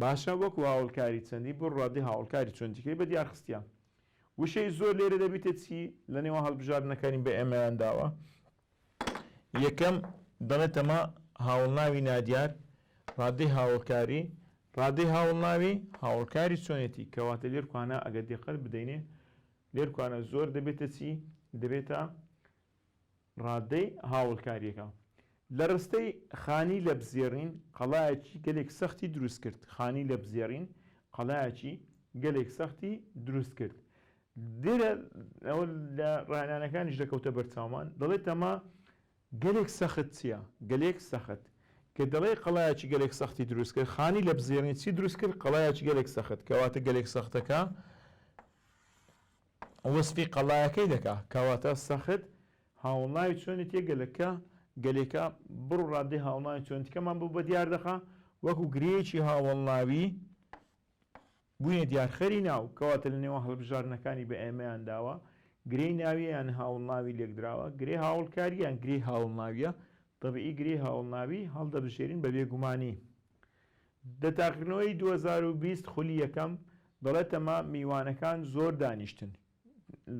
باشە وەکو هاوڵکاری چەندی بۆ ڕادی هاوڵکاری چۆندیکەی بە دیارخستە وشەی زۆر لێرە دەبیتە چی لە نێوە هەڵبژاردنەکانی بە ئێمەیان داوە یەکەم، دەڵێت ئەمە هاوڵناوی نادیار، ڕادەی هاوڵکاری، ڕادەی هاوڵناوی، هاوڵکاری چۆنێتی، کەواتە لێرکوانا ئەگەر دیقەت بدەینێ لێرکوانا زۆر دەبێتە چی؟ دەبێتە ڕادەی هاوڵکاریەکە. لە ڕستەی، خانی لەپزێڕین قەڵایەکی گەلێک سەختی دروست کرد، خانی لەپزێڕین قەڵایەکی گەلێک سەختی دروست کرد، درر ئەوە لە ڕاهێنانەکانیش دەکەوتە بەرچاومان، دەڵێت ئەمە گەلێک سەخت چییە؟ گەلێک سەخت کە دەڵێ قەڵایەکی گەلێک سەختی دروست کرد، خانی لە بزێڕینی چی دروست کرد؟ قەڵایەکی گەلێک سەخت، کەواتە گەلێک سەختەکە وەسفی قەڵایەکەی دەکا، کەواتە سەخت هاوڵناوی چۆنێتییە گەلەکە، گەلێکە بڕ و ڕادەی هاوڵناوی چۆنێتییەکەمان بۆ بە دیار دەخا وەکوو گرێیەکی هاوەڵناوی، بوونە دیارخەری ناو، کەواتە لە نێوان هەڵبژاردنەکانی بە ئێمەیان داوە، گرێی ناوییە یان هاوڵناوی لێکدراوە، گرێی هاوڵکارییە یان گرێی هاوڵناوییە، تەبیعی گرێی هاوڵناوی هەڵدەبژێرین بە بێگومانی. دە تاقیکردنەوەی دوو هەزار و بیست خولی یەکەم دەڵێتەمە میوانەکان زۆر دانیشتن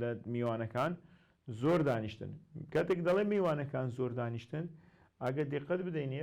لە میوانەکان زۆر دانیشتن کاتێک دەڵێ میوانەکان زۆر دانیشتن ئەگە دیقەت بدەینێ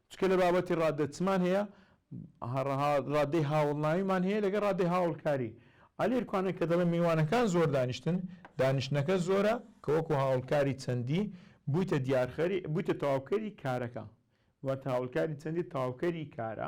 چونکە لە بابەتی ڕاددە چمان هەیە؟ ڕاددەی هاوڵناویمان هەیە لەگەڵ ڕاددەی هاوڵکاری. ئا لێرکوانە کە دەڵێ میوانەکان زۆر دانیشتن، دانیشتنەکە زۆرە کە وەکو هاوڵکاری چەندی بوویتە دیارخەری، بوویتە تەواوکەری کارەکە. واتە هاوڵکاری چەندی تەواوکەری کارە.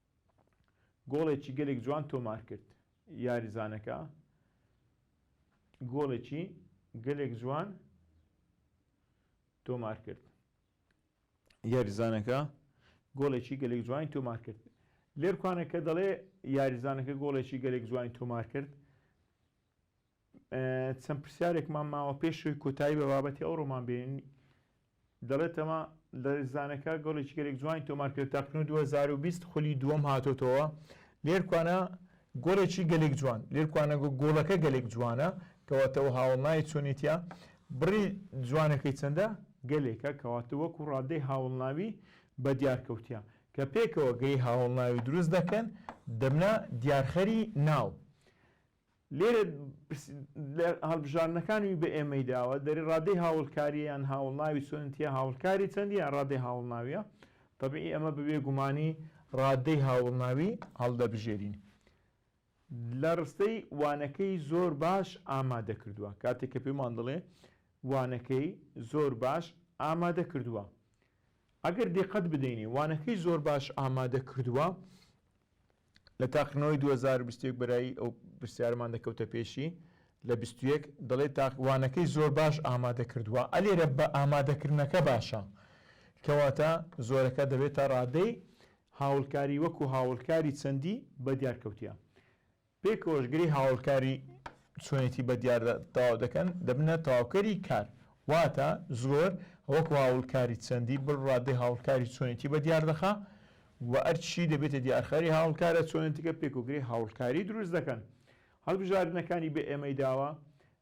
گۆڵێکی گەلێک جوان تۆمار کرد یاریزانەکە گۆڵێکی گەلێک جوان تۆمار کرد یاریزانەکە گۆڵێکی گەلێک جوانی تۆمار کرد لێرکانەکە دەڵێ یاریزانەکە گۆڵێکی گەلێک جوانی تۆمار کرد چەند پرسیارێکمان ماوە پێش ئەوەی کۆتایی بە بابەتی ئەو ڕۆمان بێنین دەڵێتەوە لە زانەکە گەڵێکی گەلێک جوانی تۆمار کرد تاکنو 2020 خولی دووەم هاتۆتەوە لێرکوانە گۆڵێکی گەلێک جوان لێرکوانە گۆڵەکە گەلێک جوانە کەواتەوە هاوڵناوی چۆنێتە بڕی جوانەکەی چەندە گەلێکە کەواتە وەکو ڕادەی هاوڵناوی بە دیارکەوتە کە پێکەوە گەی هاوڵناوی دروست دەکەن دەبنە دیارخەری ناو لێرە لە هەڵبژاردنەکانی بە ئێمەی داوە دەری ڕادەی هاوڵکاریە یان هاوڵناوی سۆنتیە هاوڵکاری چەندی یان ڕادەی هاوڵناویە طبعی ئەمە بەبێ گومانی ڕادەی هاوڵناوی هەڵدەبژێرین لە ڕستەی وانەکەی زۆر باش ئامادە کردووە کاتێک کە پێمان دەڵێ وانەکەی زۆر باش ئامادە کردووە ئەگەر دقت بدەینی وانەکەی زۆر باش ئامادە کردووە لە تاقیکردنەوەی دوو هەزار و بیست و یەک بەرایی ئەو پرسیارەمان دەکەوتە پێشی لە بیست و یەک دەڵێت تاقیوانەکەی زۆر باش ئامادە کردووە ئە لێرە بە ئامادەکردنەکە باشە کەواتە زۆرەکە دەبێتە ڕادەی هاوڵکاری وەکو هاوڵکاری چەندی بە دیار کەوتە پێکەوەش گری هاوڵکاری چۆنێتی بە دیار تاو دەکەن دەبنە تاوکەری کار واتە زۆر وەکو هاوڵکاری چەندی بڕ ڕادەی هاوڵکاری چۆنێتی بە دیار دەخە وە ئەرچی دەبێتە دیارخەری هاوڵکارە چۆنێتیکە پێک و گرێی هاوڵکاری دروست دەکەن هەڵبژاردنەکانی بە ئێمەی داوە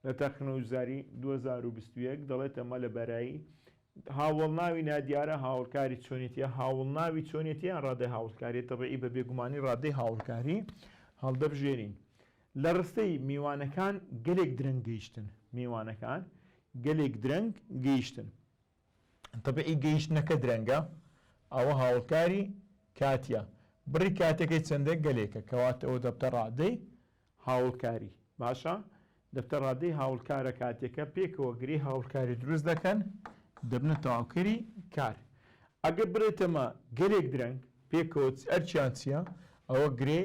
لە تاقیکردنەوەجاری دوو هەزار و بیست و یەک دەڵێت ئەمە لە بەرایی هاوڵناوی نادیارە هاوڵکاری چۆنێتیە هاوڵناوی چۆنێتیان ڕادەی هاوڵکاری تەبعی بە بێگومانی ڕادەی هاوڵکاری هەڵدەبژێرین لە ڕستەی میوانەکان گەلێک درەنگ گەیشتن میوانەکان گەلێک درەنگ گەیشتن تەبعی گەیشتنەکە درەنگە ئەوە هاوڵکاری کاتیە بڕی کاتەکەی چەندە گەلێکە کەواتە ئەوە دەبتە ڕادەی هاوڵکاری باشە دەبتە ڕادەی هاوڵکارە کاتیەکە پێکەوە گرێ هاوڵکاری دروست دەکەن دەبنە تەواوکەری کار ئەگەر بڵێتەمە گەلێک درەنگ پێکەوە ئەرچیان چیە ئەوە گرێ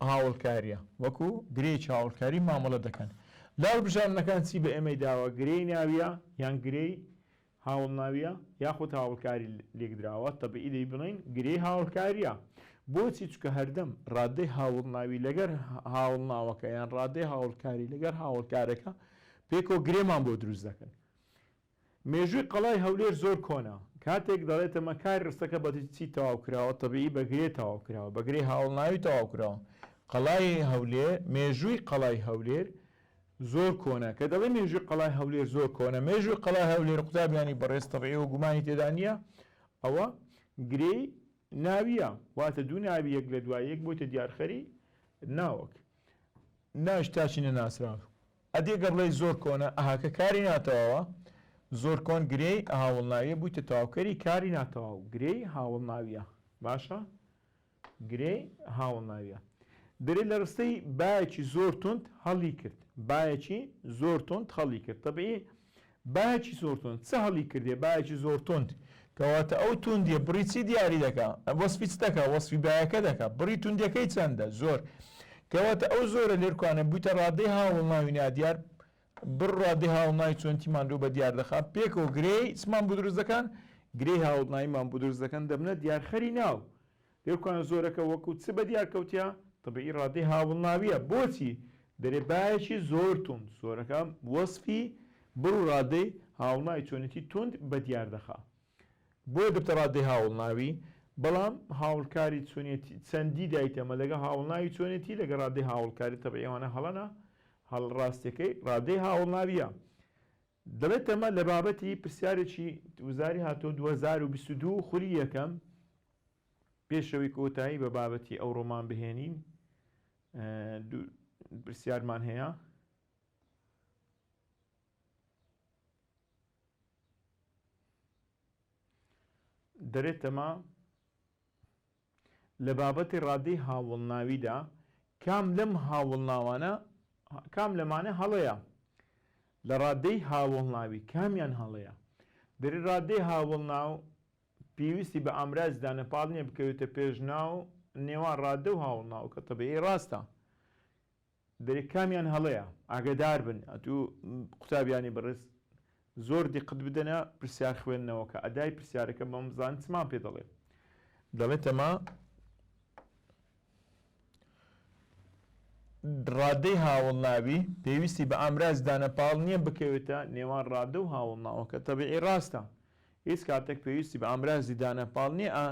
هاوڵکاریە وەکو گرێیەکی هاوڵکاری مامەڵە دەکەن لە هەڵبژاردنەکان چی بە ئێمەی داوە گرێی ناویە یان گرێی هاوڵناویە یاخود هاوڵکاری لێکدراوە تەبیعی دەی بڵین گرێی هاوڵکاریە بۆچی چکە هەردەم ڕادەی هاوڵناوی لەگەر هاوڵناوەکە یان ڕادەی هاوڵکاری لەگەر هاوڵکارەکە پێکەوە گرێمان بۆ دروست دەکەن مێژووی قەڵای هەولێر زۆر کۆنە، کاتێک دەڵێتەمە کاری ڕستەکە بە چی تەواو کراوە، تەبیعی بە گرێ تەواو کراوە، بە گرێی هاوەڵناوی تەواو کراوە. قەڵای هەولێر، مێژووی قەڵای هەولێر زۆر کۆنە، کە دەڵێین مێژووی قەڵای هەولێر زۆر کۆنە، مێژووی قەڵای هەولێر قوتابیانی بەڕێز تەبیعی و گومانی تێدا نییە، ئەوە گرێی ناوییە، واتە دوو ناوی یەک لە دوای یەک بۆیتە دیارخەری ناوک، ناویش تاچی نەناسراو. ئەدی گەر بڵێی زۆر کۆنە ئەها کە کاری ناتەواوە زۆر کۆن گرێی هاوەڵناویە بوویتە تەواوکەری کاری ناتەواو گرێی هاوەڵناویە باشە گرێی هاوەڵناویە دەرێ لە ڕستەی باەکی زۆر توند هەڵی کرد باەکی زۆر توند هەڵی کرد تەبیی بایەکی زۆر توند چ هەڵی کردێ بایەکی زۆر توند کەواتە ئەو توندیە بڕی چی دیاری دەکا وەسفی چ دەکا وەسفی بایەکە دەکا بڕی توندەکەی چەندە زۆر کەواتە ئەو زۆرە لێرکانە بوویتە ڕادەی هاوڵناوی نادیار بڕادی هاوڵناوی چۆنتی ماندوو بە دیار دەخا پێکەوە گرێی چمان بۆ دروست دەکەن گرێی هاوڵناییمان بۆ دروست دەکەن دەبنە دیارخەری ناو لێکۆن زۆرەکە وەکو چ بەدیار کەوتیە؟ تەبعی ڕادەی هاوڵناویە بۆچی دەرێ بایەکی زۆر توند زۆرەکە وەسفی بڕ و ڕادەی هاوڵناوی چۆنێتی توند بەدیار دەخا بۆیە دەبتە ڕادەی هاوڵناوی بەڵام هاوڵکاری چۆنێتی چەندی دایتە مە لەگەڵ هاوڵناوی چۆنێتی لەگەڵ ڕادەی هاوڵکاری تەبعی ئەوانە هەڵەنە هەڵ ڕاستیەکەی ڕادەی هاوڵناویە دەڵێتەمە لە بابەتی پرسیارێکی وزاری هاتۆ دوو هەزار و بیست و دوو خولی یەکەم. پێش ئەوەی کۆتایی بە بابەتی ئەوڕۆمان بهێنین دوو پرسیارمان هەیە دەرێتەما لە بابەتی ڕادەی هاوڵناویدا کام لەم هاوڵناوانە کام لەمانە هەڵەیە لە ڕادەی هاوڵناوی کامیان هەڵەیە دەری ڕادەی هاوڵناو پێویستی بە ئامرازی دانەپاڵ نییە بکەوێتە پێش ناو نێوان ڕاددە و هاوڵناو کە تەبیعی ڕاستە دەرێ کامیان هەڵەیە ئاگەدار بن ئەتوو قوتابیانی بەڕێز زۆر دیقت بدەنە پرسیار خوێندنەوەکە ئەدای پرسیارەکە بەم بزان چمان پێ دەڵێ دەڵێتەما ڕادەی هاوڵناوی پێویستی بە ئامراز دانەپاڵ نییە بکەوێتە نێوان ڕادە و هاوڵناوەکە تەبیعی ڕاستە هیچ کاتێک پێویستی بە ئامرازی دانەپاڵ نییە ئا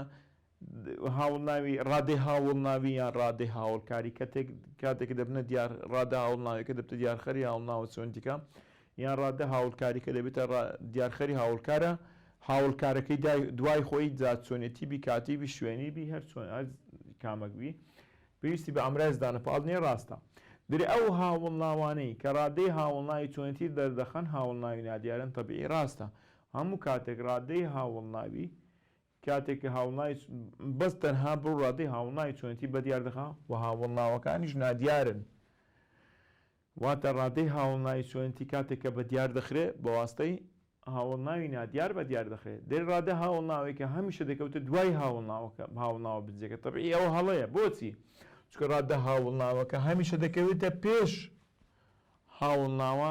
هاوڵناوی ڕادەی هاوڵناوی یان ڕادەی هاوڵکاری کەتێک کاتێک کە دەبنە دیار ڕادە هاوڵناویەکە دەبتە دیارخەری هاوڵناوە چۆندیکە یان ڕادە هاوڵکاریکە دەبێتە دیارخەری هاوڵکارە هاوڵکارەکەی دوای خۆی جا چۆنێتی بی کاتی بی شوێنی بی هەر چۆن کامەک بی پێویستی بە ئامراز دانەپاڵ نیە ڕاستە درێ ئەو هاوڵناوانەی کە ڕادەی هاوڵناوی چۆنێتی دەردەخەن هاوڵناوی نادیارن تەبیعی ڕاستە هەموو کاتێک ڕادەی هاوڵناوی کاتێک کە هاوڵناوی بەس تەنها بەو ڕادەی هاوڵناوی چۆنێتی بەدیار دەخا و هاوڵناوەکانیش نادیارن واتە ڕادەی هاوڵناوی چۆنێتی کاتێک کە بەدیار دەخرێ بەواستەی هاوڵناوی نادیار بەدیار دەخرێت دەی ڕادە هاوڵناوی کە هەمیشە دەکەوتە دوای هاوڵناوەکە هاوڵناوە بنجەکە تەبعی ئەوە هەڵەیە بۆچی چکە ڕادە هاوڵناوەکە هەمیشە دەکەوێتە پێش هاوڵناوە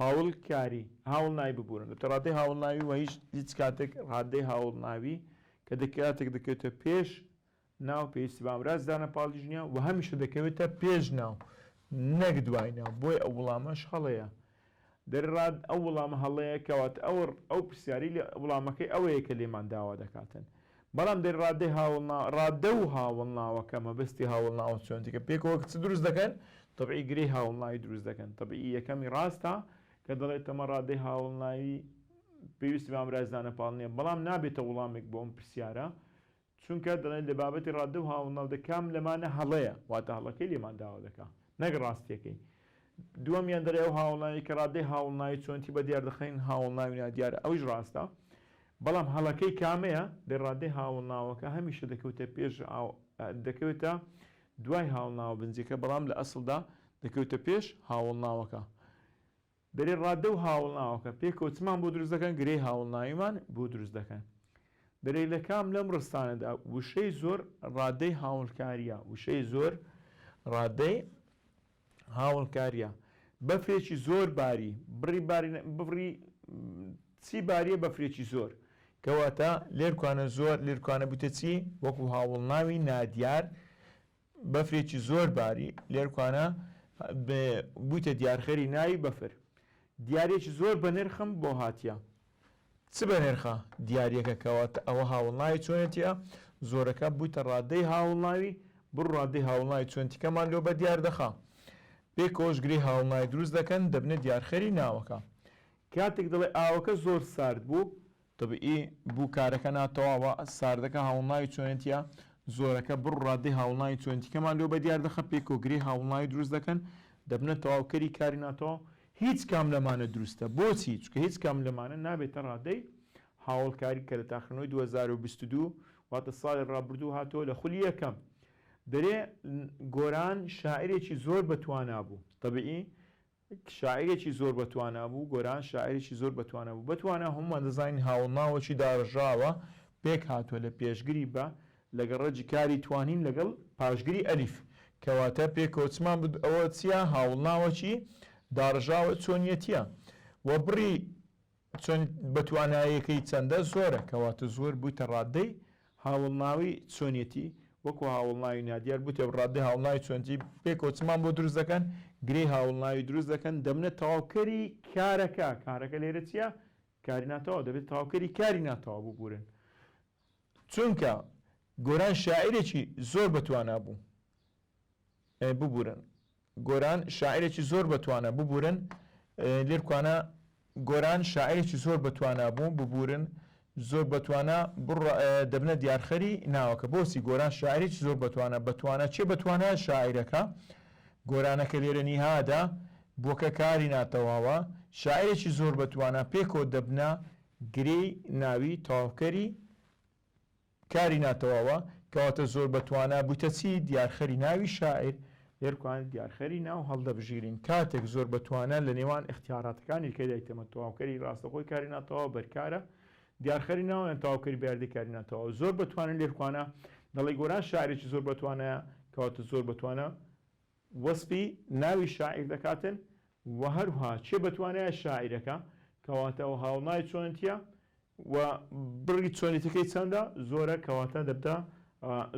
هاوڵکاری، هاوڵناوی ببورن لە تەڕادەی هاوڵناوی وە هیچ هیچ کاتێک ڕادەی هاوڵناوی کە دە کاتێک دەکەوێتە پێش ناو پێویستی بە ئامراز دانە پاڵیش نیە وە هەمیشە دەکەوێتە پێش ناو نەک دوای ناو بۆیە ئەو وڵامەش هەڵەیە دەر ڕاد ئەو وڵامە هەڵەیە کەواتە ئەوڕ ئەو پرسیاری لە وڵامەکەی ئەوەیە کە لێمان داوا دەکاتن. بەڵام دەی ڕادەی هاوڵنا ڕادە و هاوڵناوەکە مەبەستی هاوڵناوە چۆن جگە پێکەوە کچ دروست دەکەن تەبعی گرێی هاوڵناوی دروست دەکەن تەبعی یەکەمی ڕاستە کە دەڵێت تەمە ڕادەی هاوڵناوی پێویستی بامرازدانە پاڵ نییە بەڵام نابێتە وڵامێک بۆم پرسیارە چونکە دەڵێن لە بابەتی ڕادە و هاوڵناو دەکام لەمانە هەڵەیە واتە هەڵەکەی لێمان داوا دەکا نەک ڕاستیەکەی دووەمیان دەرێ ئەو هاوەڵناویەی کە ڕاددەی هاوەڵناوی چۆنێتی بە دیار دەخەین هاوەڵناوی نادیارە ئەویش ڕاستە بەڵام هەڵەکەی کامەیە دەی ڕاددەی هاوەڵناوەکە هەمیشە دەکەوتە پێش دەکەوێتە دوای هاوەڵناوە بنجیەکە بەڵام لە ئەسڵدا دەکەوتە پێش هاوەڵناوەکە دەرێ ڕاددە و هاوەڵناوەکە پێکەوە چمان بۆ دروست دەکەن گرێی هاوەڵناویمان بۆ دروست دەکەن دەرێ لە کام لەم ڕستانەدا وشەی زۆر ڕاددەی هاوڵکاریە وشەی زۆر ڕاددەی هاوەڵکاریە بەفرێکی زۆر باری بڕی باری بڕی چی باریە بەفرێکی زۆر. کەواتە لێرکانە زۆر لێرکانە بوتە چی وەکو هاوڵناوی نادیار بەفرێکی زۆر باری لێرکانە بوتە دیارخەری ناوی بەفر دیارێکی زۆر بە نرخم بۆ هاتیە چ بە نرخە دیاریەکە کەواتە ئەوە هاوڵناوی چۆنێتیە زۆرەکە بویتە ڕادەی هاوڵناوی بڕ ڕادەی هاوڵناوی چۆنتیکەمان لۆ بە دیار دەخا بێ کۆش گرێ هاوڵناوی دروست دەکەن دەبنە دیارخەری ناوەکە کاتێک دەڵێ ئاوەکە زۆر سارد بوو طبیعی بوو کارەکە ناتەواوە ساردەکە هاوڵناوی چۆنێتیە زۆرەکە بڕ ڕادەی هاوڵناوی چۆنتیکەمان لۆ بە دیار دەخە پێ کۆگری هاوڵناوی دروست دەکەن دەبنە تەواوکەری کاری ناتەواو هیچ کام لەمانە دروستە بۆچی؟ چونکە هیچ کام لەمانە نابێتە ڕادەی هاوەڵکاری کە لە تاقیکردنەوەی دوو هەزار و بیست و دوو واتە ساڵی ڕابردوو هاتووە لە خولی یەکەم. دەرێ گۆران شاعیرێکی زۆر بە توانا بوو. تەبیعی شاعیرێکی زۆر بە توانا بوو، گۆران شاعیرێکی زۆر بە توانا بوو. بە توانا هەموومان دەزانین هاوەڵناوەکی داڕژاوە پێک هاتووە لە پێشگری بە لەگەڵ ڕەجی کاری توانیم لەگەڵ پاشگری ئەلیف کەواتە پێکەوەچمان بد ئەوە چیە هاوڵناوە چی داڕژاوە چۆنیەتیە وە بڕی چۆن بەتوانایەکەی چەندە زۆرە کەواتە زۆر بویتە ڕادەی هاوڵناوی چۆنیەتی وەکو هاوڵناوی نادیار بویتە ڕادەی هاوڵناوی چۆنتی پێکەوەچمان بۆ دروست دەکەن گرێی هاوڵناوی دروست دەکەن دەبنە تەواوکەری کارەکە کارەکە لێرە چیە کاری ناتەواو دەبێت تەواوکەری کاری ناتەواو ببورن چونکە گۆران شاعیرێکی زۆر بەتوانا بوو ببورن گۆران شاعیرێکی زۆر بەتوانە ببورن لێرکوانە گۆران شاعیرێکی زۆر بەتوانا بوو ببورن زۆر بەتوانە بڕ دەبنە دیارخەری ناوەکە بۆچی گۆران شاعریی زۆر بەتوانە بەتوانە چێ بەتوانە شاعیرەکە گۆرانەکە لێرە نیهادا بۆکە کاری ناتەواوە شاعرێکی زۆر بەتوانە پێکۆ دەبنە گرێی ناوی تەواوکەری کاری ناتەواوە، کەواتە زۆر بە توانا بوویتە چی؟ دیارخەری ناوی شاعیر، دەرکوانێ دیارخەری ناو هەڵدەبژیرین کاتێک زۆر بە توانا لە نێوان ئیختیاراتەکانی کە دایتەمە تەواوکەری ڕاستەخۆی کاری ناتەواو بەرکارە دیارخەری ناو یان تەواوکەری بە یاردەی کاری ناتەواو زۆر بە توانا لێرکوانە دەڵێ گۆران شاعیرێکی زۆر بە توانایە کەواتە زۆر بە توانا وەسپی ناوی شاعیر دەکاتن و هەروها چێ بەتوانایە شاعیرەکە کەواتە و هاوڵناوی چۆنتیە و بڕی چۆنێتیەکەی چەندە زۆرە کەواتە دەبتە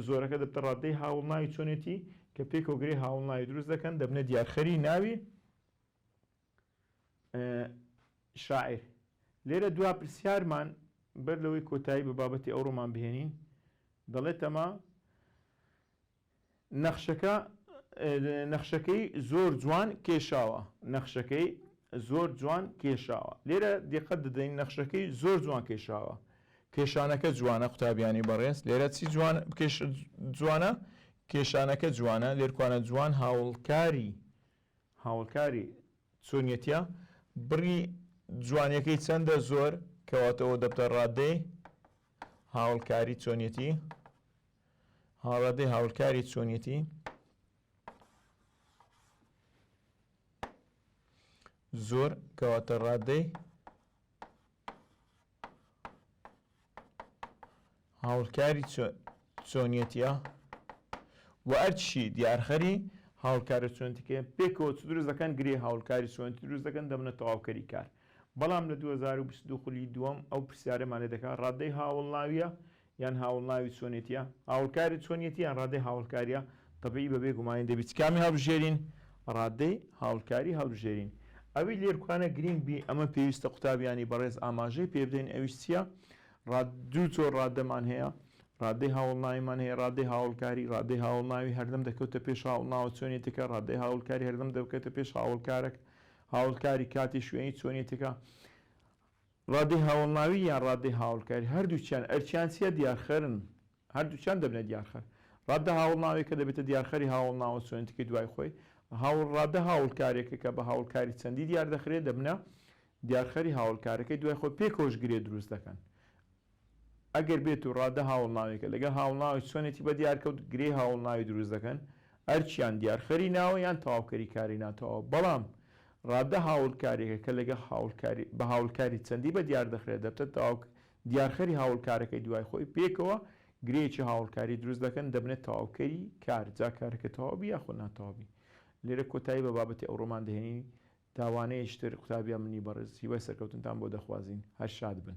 زۆرەکە دەبتە ڕاددەی هاوڵناوی چۆنێتی کە پێکەوە گرێ هاوڵناوی دروست دەکەن دەبنە دیارخەری ناوی شاعیر لێرە دوا پرسیارمان بەر لەوەی کۆتایی بە بابەتی ئەوڕۆمان بهێنین دەڵێتەما نەخشەکە نەخشەکەی زۆر جوان کێشاوە نەخشەکەی زۆر جوان کێشاوە لێرە دیقەت دەدەین نەخشەکەی زۆر جوان کێشاوە کێشانەکە جوانە قوتابیانی بەڕێز لێرە چی جوان بکێش جوانە کێشانەکە جوانە لێرکوانە جوان هاوڵکاری هاوڵکاری چۆنیەتە بڕی جوانیەکەی چەندە زۆر کەواتەوە دەبتە ڕادەی هاوڵکاری چۆنیەتی هاوردەی هاولکاری چۆنیەتی زۆر کەواتە ڕادەی هاولکاری چۆنیەتە و ئەرچی دیارخەری هاولکاری چۆنتیکە پێکەوە چ دروست دەکەن گرێ هاولکاری چۆنتی دروست دەکەن دەبنە تەواوکەری کار بەڵام لە 2022 خولی دووەم ئەو پرسیارەمان لێ دەکات ڕادەی هاوڵناویە یان هاوڵناوی چۆنێتییە هاوڵکاری چۆنیەتی یان ڕادەی هاوڵکارییە تەبیی بەبێ گومانی دەبیت کامی هەڵبژێرین ڕادەی هاوڵکاری هەڵبژێرین ئەوی لێرکوانە گرینگ بی ئەمە پێویستە قوتابیانی بەڕێز ئاماژەی پێ بدەین ئەویش چییە ڕاد دوو جۆر ڕادەمان هەیە ڕادەی هاوڵناویمان هەیە ڕادەی هاوڵکاری ڕادەی هاوڵناوی هەردەم دەکەوتە پێش هاوڵناوە چۆنێتەکە ڕادەی هاوڵکاری هەردەم دەکەوتە پێش هاوڵکارەک هاوڵکاری کاتی شوێنی چۆنێتەکە ڕادەی هاوەڵناوی یان ڕادەی هاوەڵکاری هەردووکیان ئەرکیان چیە دیارخەرن هەردووکیان دەبنە دیارخەر ڕادە هاوەڵناویەکە دەبێتە دیارخەری هاوەڵناوە چۆنێتیکەی دوای خۆی هاوڵ ڕادە هاوڵکاریەکە کە بە هاوڵکاری چەندی دیاردەخرێت دەبنە دیارخەری هاوڵکارەکەی دوای خۆی پێکەوەش گرێ دروست دەکەن ئەگەر بێت و ڕادە هاوڵناوێکە لەگەڵ هاوڵناوی چۆنێتی بە دیارکەوت گرێی هاوڵناوی دروست دەکەن ئەرک یان دیارخەری ناوە یان تەواوکەری کاری ناتەواو بەڵام ڕادە هاوڵکاریەکە کە لەگەڵ هاوڵکاری بە هاوڵکاری چەندی بە دیار دەخرێت دەبتە تەواو دیارخەری هاوڵکارەکەی دوای خۆی پێکەوە گرێیەکی هاوڵکاری دروست دەکەن دەبنە تەواوکەری کار جا کارەکە تەواوبی یاخۆ ناتەواوبی لێرە کۆتایی بە بابەتی ئەوڕۆمان دەهێنین تاوانەیەشتر قوتابیان منی بەڕێز هیوای سەرکەوتنتان بۆ دەخوازین هەر شاد بن.